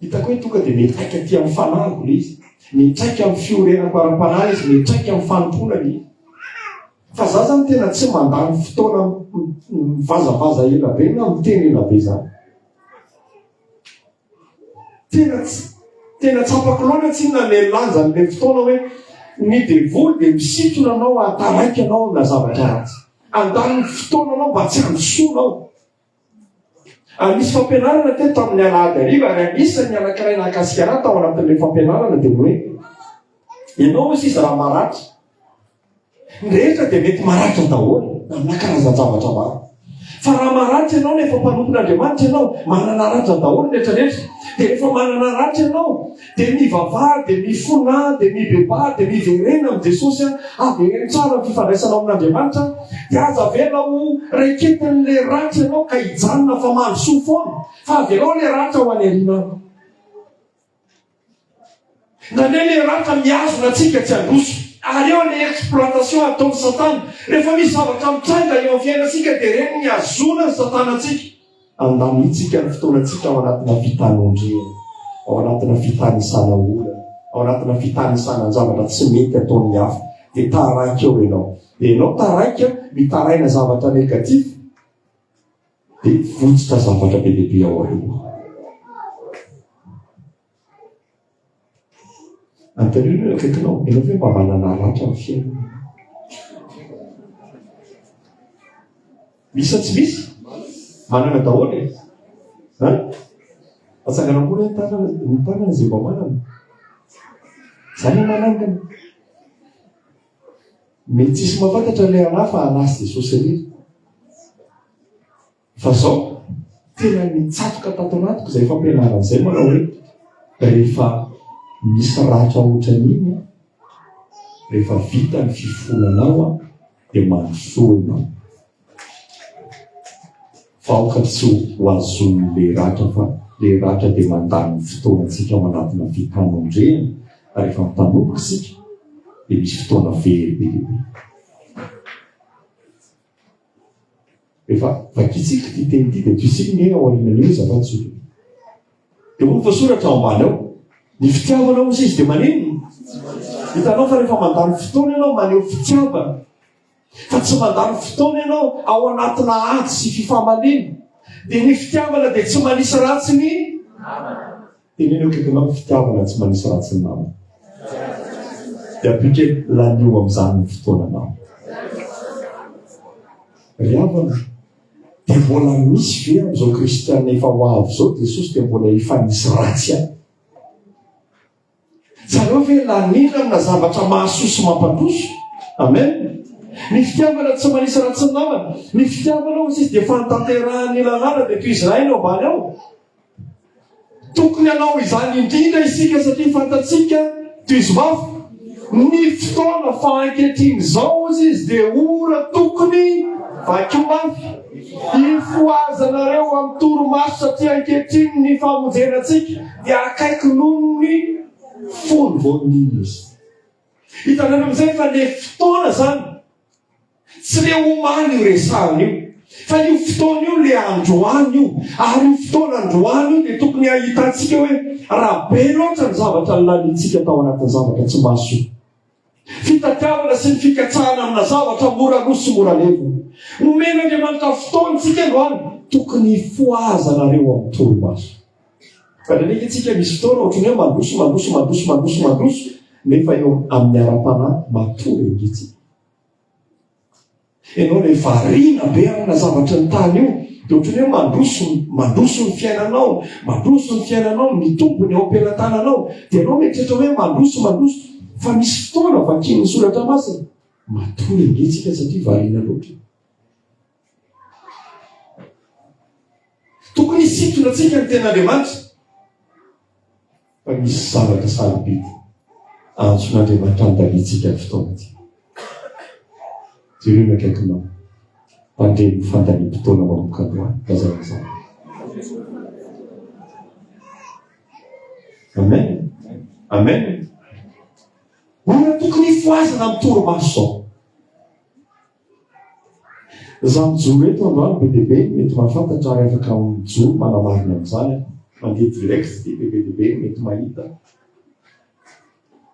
[SPEAKER 1] Hitako hoe tonga dia miantraika aty amin'ny fanahiko ilay izy. Miantraika amin'ny fiorenako ara-panahy izy, miantraika amin'ny fanompoana ilay izy. Fa izaho izany tena tsy mandany fotoana mivazavaza ela be na miteny ela be izany. Tena tsy, tena tsapako loatra tsinona ilay lanjan'ilay fotoana hoe ny devoly dia misintona anao hahataraiky anao amina zavatra ratsy. Handany ny fotoananao mba tsy handisoanao. Ary nisy fampianarana teto tamin'ny alahady hariva ary anisan'ny anankiray nahakasika ahy tao anatin'ilay fampianarana dia hoe ianao hoy sisa raha maratra Ny rehetra dia mety maratra daholo na amina karazan-javatra maro. Fa raha maratra ianao nefa mpanompon'Andriamanitra ianao, manana ratra daholo ny rehetra rehetra, dia rehefa manana ratra ianao, dia mivavaha, dia mifona, dia mibebaha, dia miverena amin'i Jesosy an, havereno tsara ny fifandraisanao amin'Andriamanitra, dia aza avela ho raiketin'ilay ratra ianao ka hijanona fa mandrosoa foana, fa avelao ilay ratra ho any aoriana any. Nandre le ratra mihazona antsika tsy handroso. Ary eo le exploitation ataon'i satana. Rehefa misy zavatra mitranga eo amin'ny fiainantsika dia ireny no ihazoana ny satana antsika. Andamintsika ny fotoanantsika ao anatina fitanomdrena, ao anatina fitanisana olana, ao anatina fitanisana ny zavatra tsy mety ataon'ny hafa. Dia taraiky eo ianao. Dia ianao taraiky mitaraina zavatra negatif. Dia votsotra zavatra be dia be ao aoriana. Anontanio ny eo akaikinao, ianao ve mba manana ratra amin'ny fiainana? Misy sa tsy misy? Manana daholo e. Ha? Atsangana ambony ny tanana, ny tanana izay mba manana. Izany ny manangana. Mety tsisy mampantatra le anah fa anah sy Jesosy irery. Fa zao, tena nitsatoka tato anatiko izay fampianarana izay manao hoe rehefa misy ratra ohatran'iny rehefa vita ny fifonanao dia mandrosoa ianao. Vahoka tsy ho azon'ny le ratra fa le ratra dia mandany fotoantsika ao anatina fifanondrena fa rehefa mifanomboka isika dia misy fotoana very be dia be. Efa vakintsika ity teny ity dia toisika ny ao aorianan'io izy afa tsy dia hoy ny voasoratra ao ambany ao ny fitiavana hoy izy dia maneno hitanao fa rehefa mandany fotoana ianao maneho fitiavana fa tsy mandany fotoana ianao ao anatina ady sy fifamaliana, dia ny fitiavana dia tsy manisy ratsy ny namana. Teneno akaikinao ny fitiavana tsy manisy ratsy ny namana. Dia ampike lanio amin'izany ny fotoananao. Ry havana, dia mbola misy ve amin'izao kristiana efa ho avy izao Jesosy dia mbola efa nisy ratsy ahy? Zareo ve laniana amina zavatra mahasoa sy mampandroso? Amen. Ny fitiavana tsy manisa raha tsy namana. Ny fitiavana hoy izy dia fanatanterahan'ny lalàna dia toy izany eo ambany ao. Tokony hanao izany indrindra isika satria fantatsika toy izy mafy ny fotoana fa ankehitriny izao hozy izy dia ora tokony vakio mafy ifohazanareo amin'ny toromaso satria ankehitriny ny famonjena antsika Dia akaiky noho ny fony vao nino izy. Hitanareo amin'izay fa le fotoana zany, tsy le omaly io resahana io, fa io fotoana io le androany io, ary io fotoana androany io dia tokony hahitantsika hoe raha be loatra ny zavatra lanintsika tao anatin'ny zavatra tsy mahasoa. Fitadiavana sy ny fikatsahana amina zavatra mora lo sy mora levona. Nomen'Andriamanitra fotoana tsika androany, tokony hifohaza nareo amin'ny torimaso. Ndraindraika itsika misy fotoana ohatry ny hoe mandroso, mandroso, mandroso, mandroso, mandroso, nefa eo amin'ny ara-panahy matory ange tsika. Ianao ilay variana be amina zavatry ny tany io, dia ohatran'ny hoe mandroso, mandroso ny fiainanao, mandroso ny fiainanao, mitombo ny ao am-pelatananao, dia ianao mieritreritra hoe mandroso, mandroso, fa misy fotoana vakian'ny soratra masina, matory ange tsika satria variana loatra. Tokony hisintona antsika ny ten'Andriamanitra. fa misy zavatra sarobidy antson'Andriamanitra andaniantsika ny fotoana ity. Jereo ny akaikinao, mandre ny fandaniam-potoana manomboka androany, lazaina izany. Amen. Amen. Olona tokony hifohazana amin'ny torimaso izao. Za mijoro eto androany be dia be ny mety mahafantatra ary afaka mijoro manamarina an'izany aho. Mandeha direct dia be dia be ny mety mahita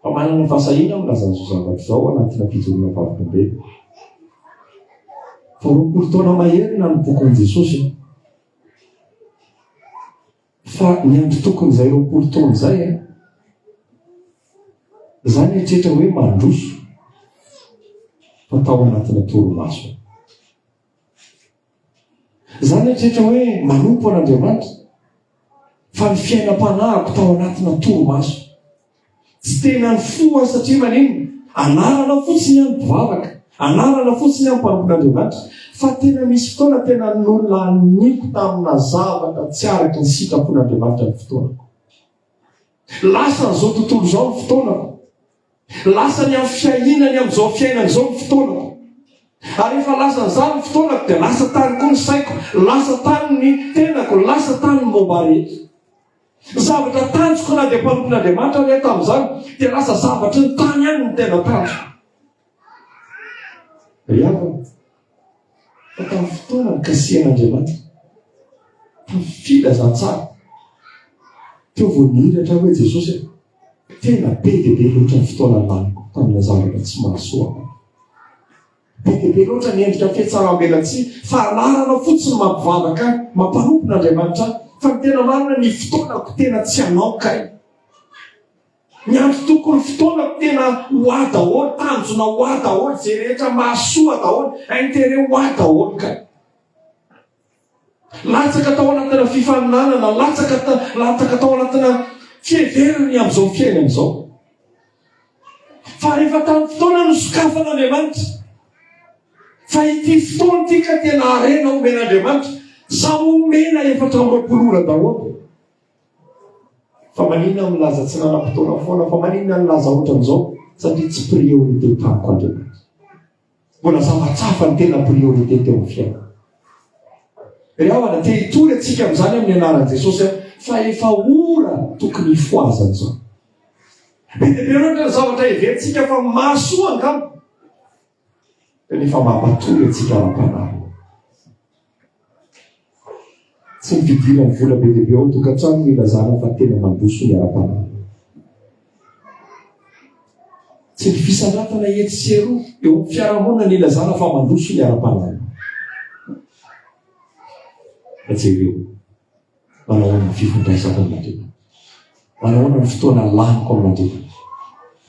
[SPEAKER 1] fa manana fahasahiana milaza an'izao zavatra izao ao anatina fijoroana vavolombelona. Vao roapolo taona maherina ny bokin'i Jesosy. Fa ny antokony-izay roapolo taona izay an! Za nieritreritra hoe mandroso fa tao anatina torimaso. Za nieritreritra hoe manompo an'Andriamanitra fa ny fiainam-panahiko tao anatina torimaso. Tsy tena nifoha satria maninona? Anarana fotsiny an mpivavaka, anarana fotsiny an mpanompo n'Andriamanitra. Fa tena misy fotoana tena nolaniniko tamina zavatra tsy araka ny sitrapon'Andriamanitra ny fotoanako. Lasan'izao tontolo izao ny fotoanako. Lasany amin'ny fiahiana ny amin'izao fiainana izao ny fotoanako. Ary rehefa lasan'izany ny fotoanako dia lasa tany koa ny saiko, lasa tany ny tenako, lasa tany ny momba rehetra. Ny zavatra tanjoko na dia mpanompon'Andriamanitra ary aho tamin'izany dia lasa zavatry ny tany ihany ny tena tanjoko. Ry havana, fa tamin'ny fotoana nikasihan'Andriamanitra, tamin'ny filazantsara, teo vao nihiratra aho hoe Jesosy e, tena be dia be loatra ny fotoana laniko tamina zavatra tsy mahasoa ahy. Be dia be loatra ny endrika fihetsaram-belatsihy fa anarana fotsiny mampivavaka ahy, mampanompona Andriamanitra ahy. Fa ny tena marina, ny fotoanako tena tsy anao kay. Miandry tompoko ny fotoanako tena ho ahy daholo, tanjona ho ahy daholo, izay rehetra mahasoa ahy daholo, intérêt ho ahy daholo kay. Latsaka tao anatina fifaninanana, latsaka ta, latsaka tao anatina fiheverana ny amin'izao fiainana izao. Fa rehefa tamin'ny fotoana no sokafana Andriamanitra, fa ity fotoana ity ka tena harena omena Andriamanitra, sa omena efatra amby roapolo ora daholo? Fa maninona milaza tsy nanam-potoana foana, fa maninona nilaza ohatran'izao? Satria tsy priorité tamiko Andriamanitra. Mbola zavatra hafa no tena priorité teo amin'ny fiainako. Ry havana, te hitory antsika amin'izany amin'ny anaran'i Jesosy aho, fa efa ora tokony hifohazana izao. Be dia be loatra ny zavatra heverintsika fa mahasoa angamba, kanefa mampatory antsika ara-panahy. Tsy ny fidiran'ny vola be dia be ao an-tokantrano no ilazana fa tena mandroso ny ara-panahy. Tsy ny fisandrantana etsy sy eroa eo amin'ny fiarahamonina no ilazana fa mandroso ny ara-panahy. Fa jereo. Manahoana ny fifandraisako amin'ny Tompo? Manahoana ny fotoana laniko amin'ny Tompo?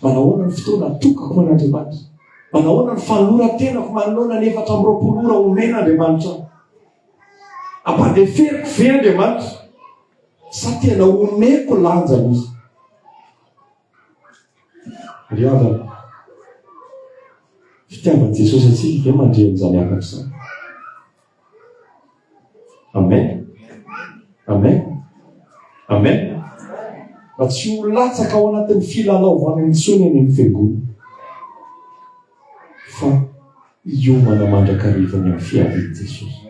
[SPEAKER 1] Manahoana ny fotoana atokako an'Andriamanitra? Manahoana ny fanoloran-tenako manoloana ny efatra amby roapolo ora omena Andriamanitra? Ampandeferiko ve Andriamanitra? Sa tena omeko lanjany izy? Ry havana, fitiavan'i Jesosy antsika ve mandreny izany hafatra izany? Amen. Amen. Amen. Fa tsy ho latsaka ao anatin'ny filalaovana intsony any amin'ny fiangonana. Fa hiomana mandrakariva ny amin'ny fiavian'i Jesosy.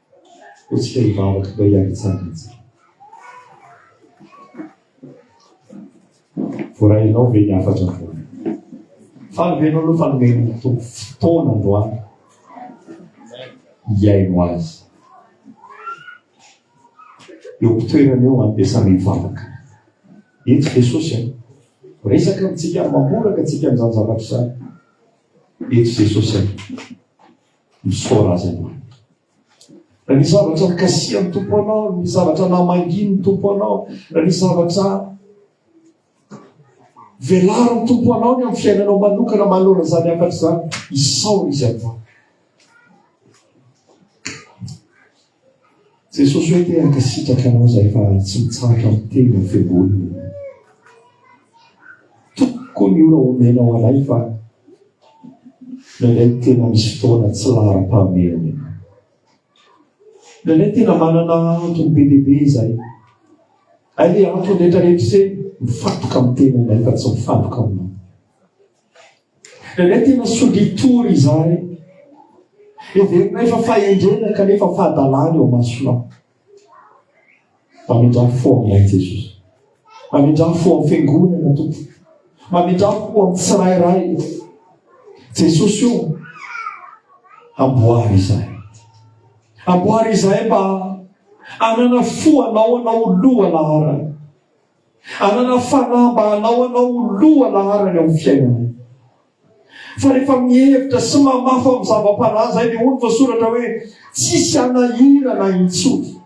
[SPEAKER 1] Hetsika hivavaka mba hiaretsahana antsika. Voarainao ve ny hafatra androany? Faly ve ianao aloha fa nomen'ny Tompo fotoana androany hiaino azy? Eo am-pitoerana eo an, dia samy hivavaka. Eto Jesosy an, resaka amintsika, mamoraka antsika amin'izany zavatra izany. Eto Jesosy an. Misaora Azy aloha. Raha misy zavatra nikasihan'ny Tompo anao, raha misy zavatra namangian'ny Tompo anao, raha misy zavatra velarin'ny Tompo anao ny amin'ny fiainanao manokana manoloana izany hafatra izany, isaora Izy aloha. Jesosy hoe te hankasitraka anao izay fa tsy mitsahatra miteny ny feon'olona ianao. Tokony ny ora omenao anay fa nendray tena misy fotoana tsy laharam-pahamehana ianao. Nendray tena manana antony be dia be izay. Ary le antony rehetra rehetra izay mifantoka amin'ny tenanay fa tsy mifantoka aminao. Indraindray tena solitory izahay. Heverinay fa fahendrena kanefa fahadalana eo masonao. Mamindrà fo aminay Jesosy. Mamindrà fo amin'ny fiangonana tompo. Mamindrà fo amin'ny tsirairay. Jesosy io amboary izahay. Amboary izahay mba hanana fo anao anao loha laharana. Hanana fanahy mba hanao anao ho loha laharana eo amin'ny fiainanay. Fa rehefa mihevitra sy mamafa amin'ny zava-panahy izay dia hoy ny voasoratra hoe, Tsisy hanahirana intsony.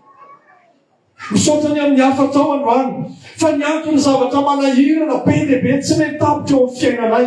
[SPEAKER 1] Misaotra ny amin'ny hafatrao androany, fa niankin'ny zavatra manahirana be dia be tsy mety tapitra eo amin'ny fiainanay.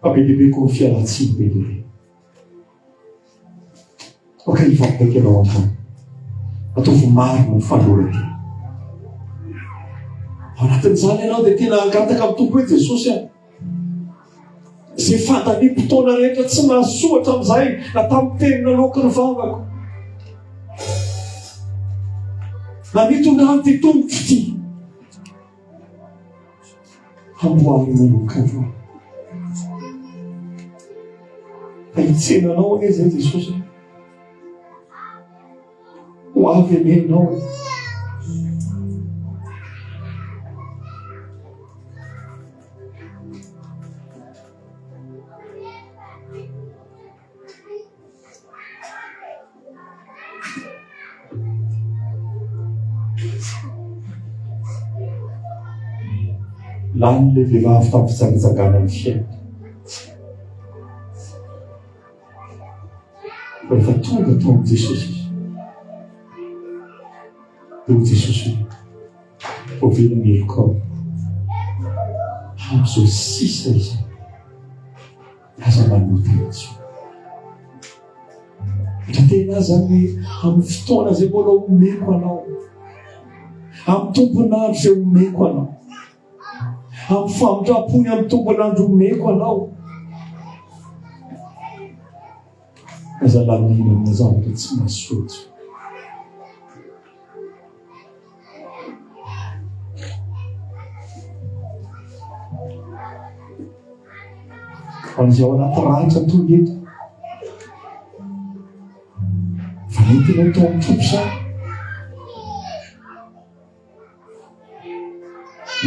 [SPEAKER 1] Fa be dia be koa ny fialan-tsiny be dia be. Aoka hivampaka ianao hatrany. Ataovy marina ny fanoloran-tena. Ao anatin'izany ianao dia tena hangataka amin'ny Tompo hoe Jesosy aho. Izay fandaniam-potoana rehetra tsy mahasoa hatramin'izay na tamin'ny teny naloaky ny vavako. Na nitondrany ity tongotro ity. hamboarina anao kandra fa hitsena anao anie zay jesosy ho avy ane anao e Lany le vehivavy tamin'ny fijangajangana ny fiainany. Rehefa tonga tao amin'i Jesosy izy, dia ho Jesosy hoe, hovela ny helokao, hahazo sisa izany. Aza manoa tena tsy ho. Dra tena aza ny amin'ny fotoana izay mbola omeko anao. Amin'ny tompon'andro izay omeko anao. Amin'ny famindrampony amin'ny tompon'andro omeko anao. Aza lalina amina zavatra tsy mahasoa. Fa izay ao anaty ranitra toy ny eto. Fa mety ianao tao amin'ny tompo sa?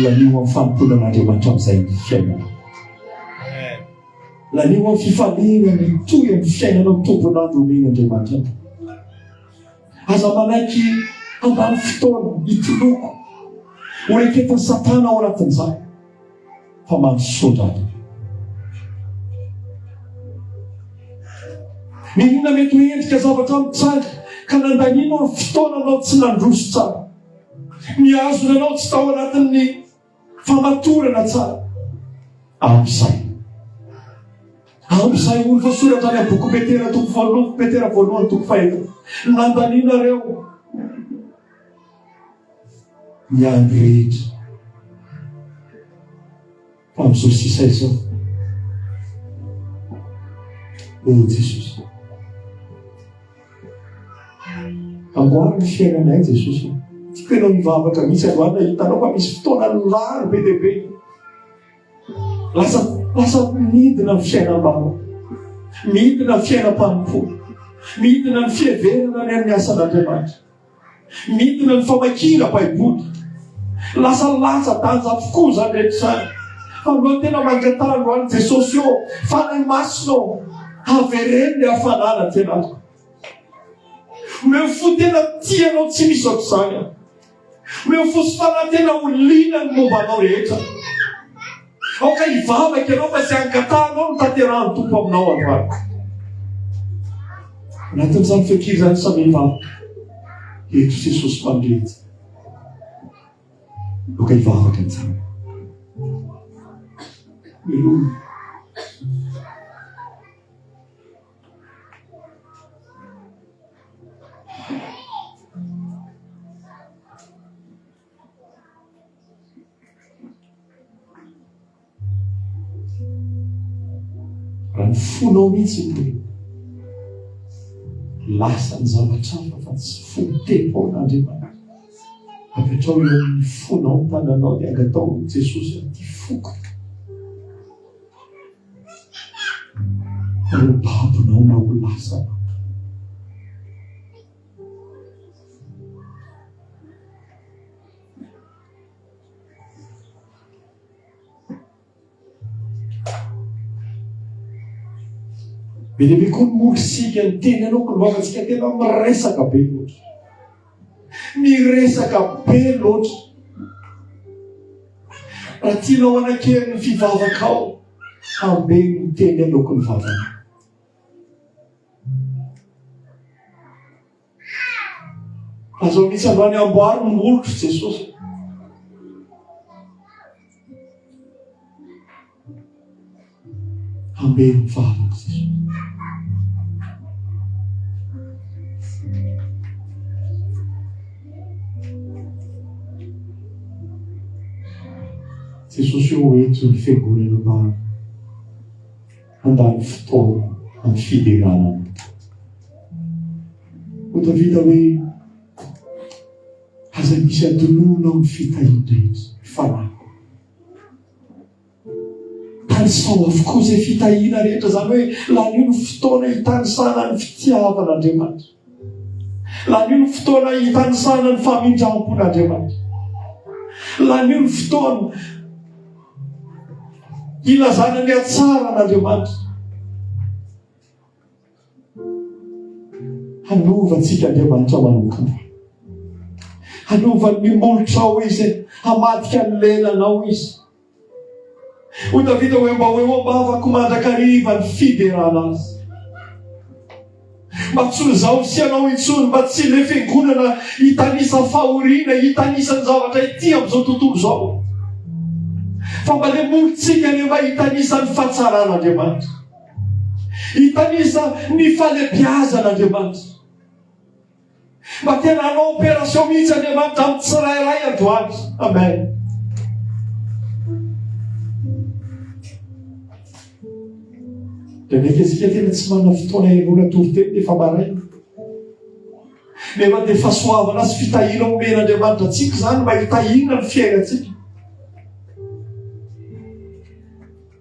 [SPEAKER 1] Lanio amin'ny fanompoanan'Andriamanitra amin'izay ny fiainana. Lanio amin'ny fifaliana mitohy amin'ny fiainanao tompon'andro omen'Andriamanitra. Aza manaiky handany fotoana hitoloko ho reketan'i Satana ao anatin'izany, fa mahasosotra ahy. Inona mety ho endrika zavatra mitranga ka nandanianao ny fotoananao tsy nandroso tsara? Mihazona anao tsy tao anatin'ny Famatorana tsara. Amin'izay. Amin'izay ony voasoratra any amin'ny boky Petera toko voalohany, Petera voalohany toko fahenina. Nandaninareo ny andro rehetra. Fa amin'izao sisa izao, hoy i Jesosy. Amboary ny fiainanay Jesosy. Tiako ianao mivavaka mihitsy androany raha hitanao fa misy fotoana lany be dia be. Lasa lasa midina ny fiainam-bava. Midina ny fiainam-panompoana. Midina ny fiheverana ny amin'ny asan'Andriamanitra. Midina ny famakiana Baiboly. Lasa latsa-danja avokoa izany rehetra izany. Fa mbola tena mangatara androany Jesosy ô, Fanahy Masina ô, avereno ny hafanana aty anatiko. Omeo fo tena tia anao tsy misy ohatr'izany aho. Omeo fo sy fanahy tena ho liana ny momba anao rehetra. Aoka hivavaka ianao fa tsy angatahanao ny tanterahan'ny Tompo aminao androany. Anatin'izany feonkira izany samy hivavaka. Eto Jesosy Mpandrindra. Aoka hivavaka ny tsara. Aleluia. Raha ny fonao mihitsy no hoe lasa ny zavatra hafa fa tsy fony temporan'Andriamanitra. Apetrao eo amin'ny fonao ny tananao dia angatao amin'i Jesosy amin'ity foko. Ireo babonao na ho lasa. Be dia be koa ny mody sika ny teny anao ka lovatsika tena miresaka be loatra. Miresaka be loatra. Raha tianao hanakery ny fivavakao, hambe ny teny aloky ny vavanao. Aza mitsy ambany amboary ny molotro Jesosy. Hambeno vavaka Jesosy. Jesosy eo ento ny fiangonana maro. Handany fotoana amin'ny fiderana ny mpitondra. Ho tafita hoe, Aza misy atolona amin'ny fitahian-drehetra, ry fanahiko. Tanisaho avokoa izay fitahiana rehetra, izany hoe lanio ny fotoana hitanisana ny fitiavan'Andriamanitra. Lanio ny fotoana hitanisana ny famindram-pon'Andriamanitra. Lanio ny fotoana hilazana ny hatsaran'Andriamanitra. Hanovantsika Andriamanitra manokana. Hanovan'ny molotra ao izy, hamadika ny lelanao izy. Hoy Davida, Hoe mba ho eo am-bavako mandrakariva ny fiderana azy. Mba tsy ho izaho sy ianao intsony, mba tsy ilay fiangonana hitanisa fahoriana, hitanisa ny zavatra ity amin'izao tontolo izao. Fa mba ilay morontsika ilay mba hitanisa ny fatsaran'Andriamanitra. Hitanisa ny falebiazan'Andriamanitra. Mba tena hanao opération mihitsy Andriamanitra amin'ny tsirairay androany. Amen. Dia mekezika tena tsy manana fotoana hihainoana toriteny efa maraina. Nefa dia fahasoavana sy fitahiana omena Andriamanitra antsika izany mba hitahiana ny fiainantsika.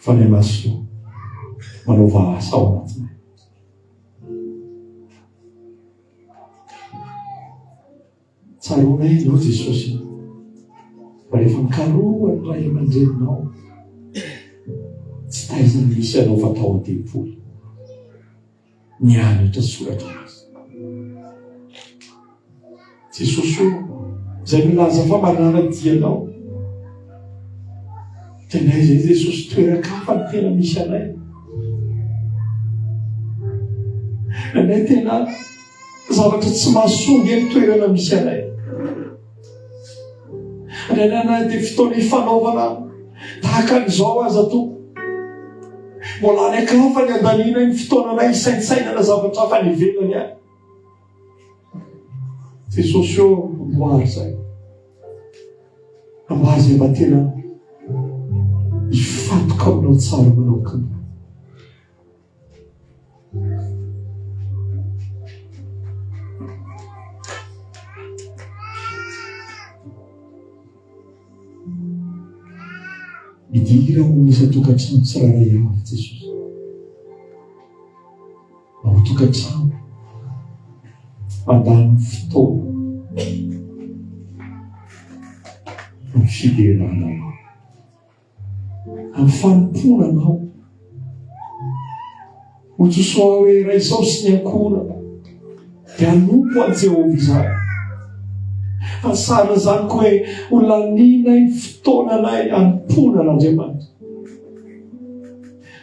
[SPEAKER 1] fa ilay maso manaova asa ao anatinay. Tsaroanay ianao Jesosy fa rehefa mikarohan'ny ray aman-dreninao tsy taizany misy anao fa tao an-tempoly. ny hanitra soratra azy. Jesosy o, izay milaza fa manara-dia anao. Tena izay Jesosy toeran-kafa ny tena misy anay. Anay tena zavatra tsy mahasoa ny toerana misy anay. Iainanay dia fotoana ifanaovana tahaka an'izao aza tompo. Mbola any an-kafa ny andanianay ny fotoananay hisaintsainana zavatra hafa any ivelany any. Jesosy eo amboary izay. Amboary izay mba tena hifantoka aminao tsara manao tompoko. Midira ao amin'ny isan-tokantrano tsirairay avy Jesosy. Ao an-tokantrano, mandany fotoana amin'ny fiderana anao. Amin'ny fanompoana Anao. Hotosoa hoe Ray Sao sy ny ankohonako dia hanompo an'i Jehovah izany. Hasarina izany koa hoe ho lanianay ny fotoananay hanompoana an'Andriamanitra.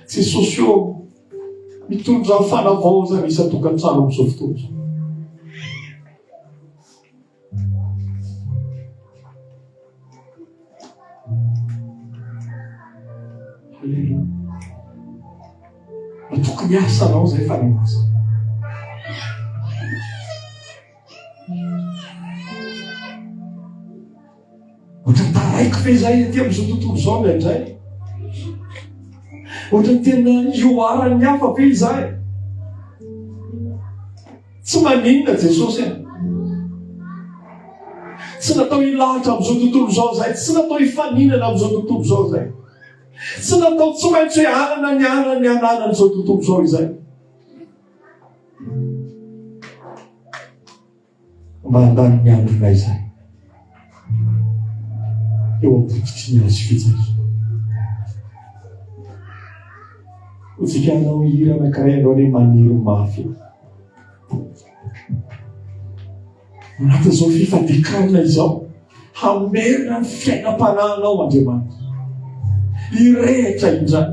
[SPEAKER 1] Jesosy ô, mitondra fanavaozana isan-tokantrano amin'izao fotoana izao. Tokony asa anao zay fa miasa. Ohatran'ny taraiky ve izay aty amin'izao tontolo izao indraindray? Ohatran'ny tena ioaran'ny hafa ve izay? Tsy maninona Jesosy e. Tsy natao hilahatra amin'izao tontolo izao izay, tsy natao hifaninana amin'izao tontolo izao izay. Tsy natao tsy maintsy hoe anana ny anana ny ananan'izao tontolo izao izay. Mandany ny andronay izay eo am-pototry ny hazo fijaliana. Hotsika hanao hira anankiray ianao ilay maniry mafy eo. Anatin'izao fifadekarana izao. Hamerina ny fiainam-panahinao Andriamanitra. Hirehitra indray.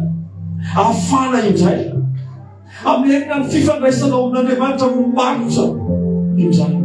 [SPEAKER 1] Afana indray. Hamerina ny fifandraisanao amin'Andriamanitra no maritra indray.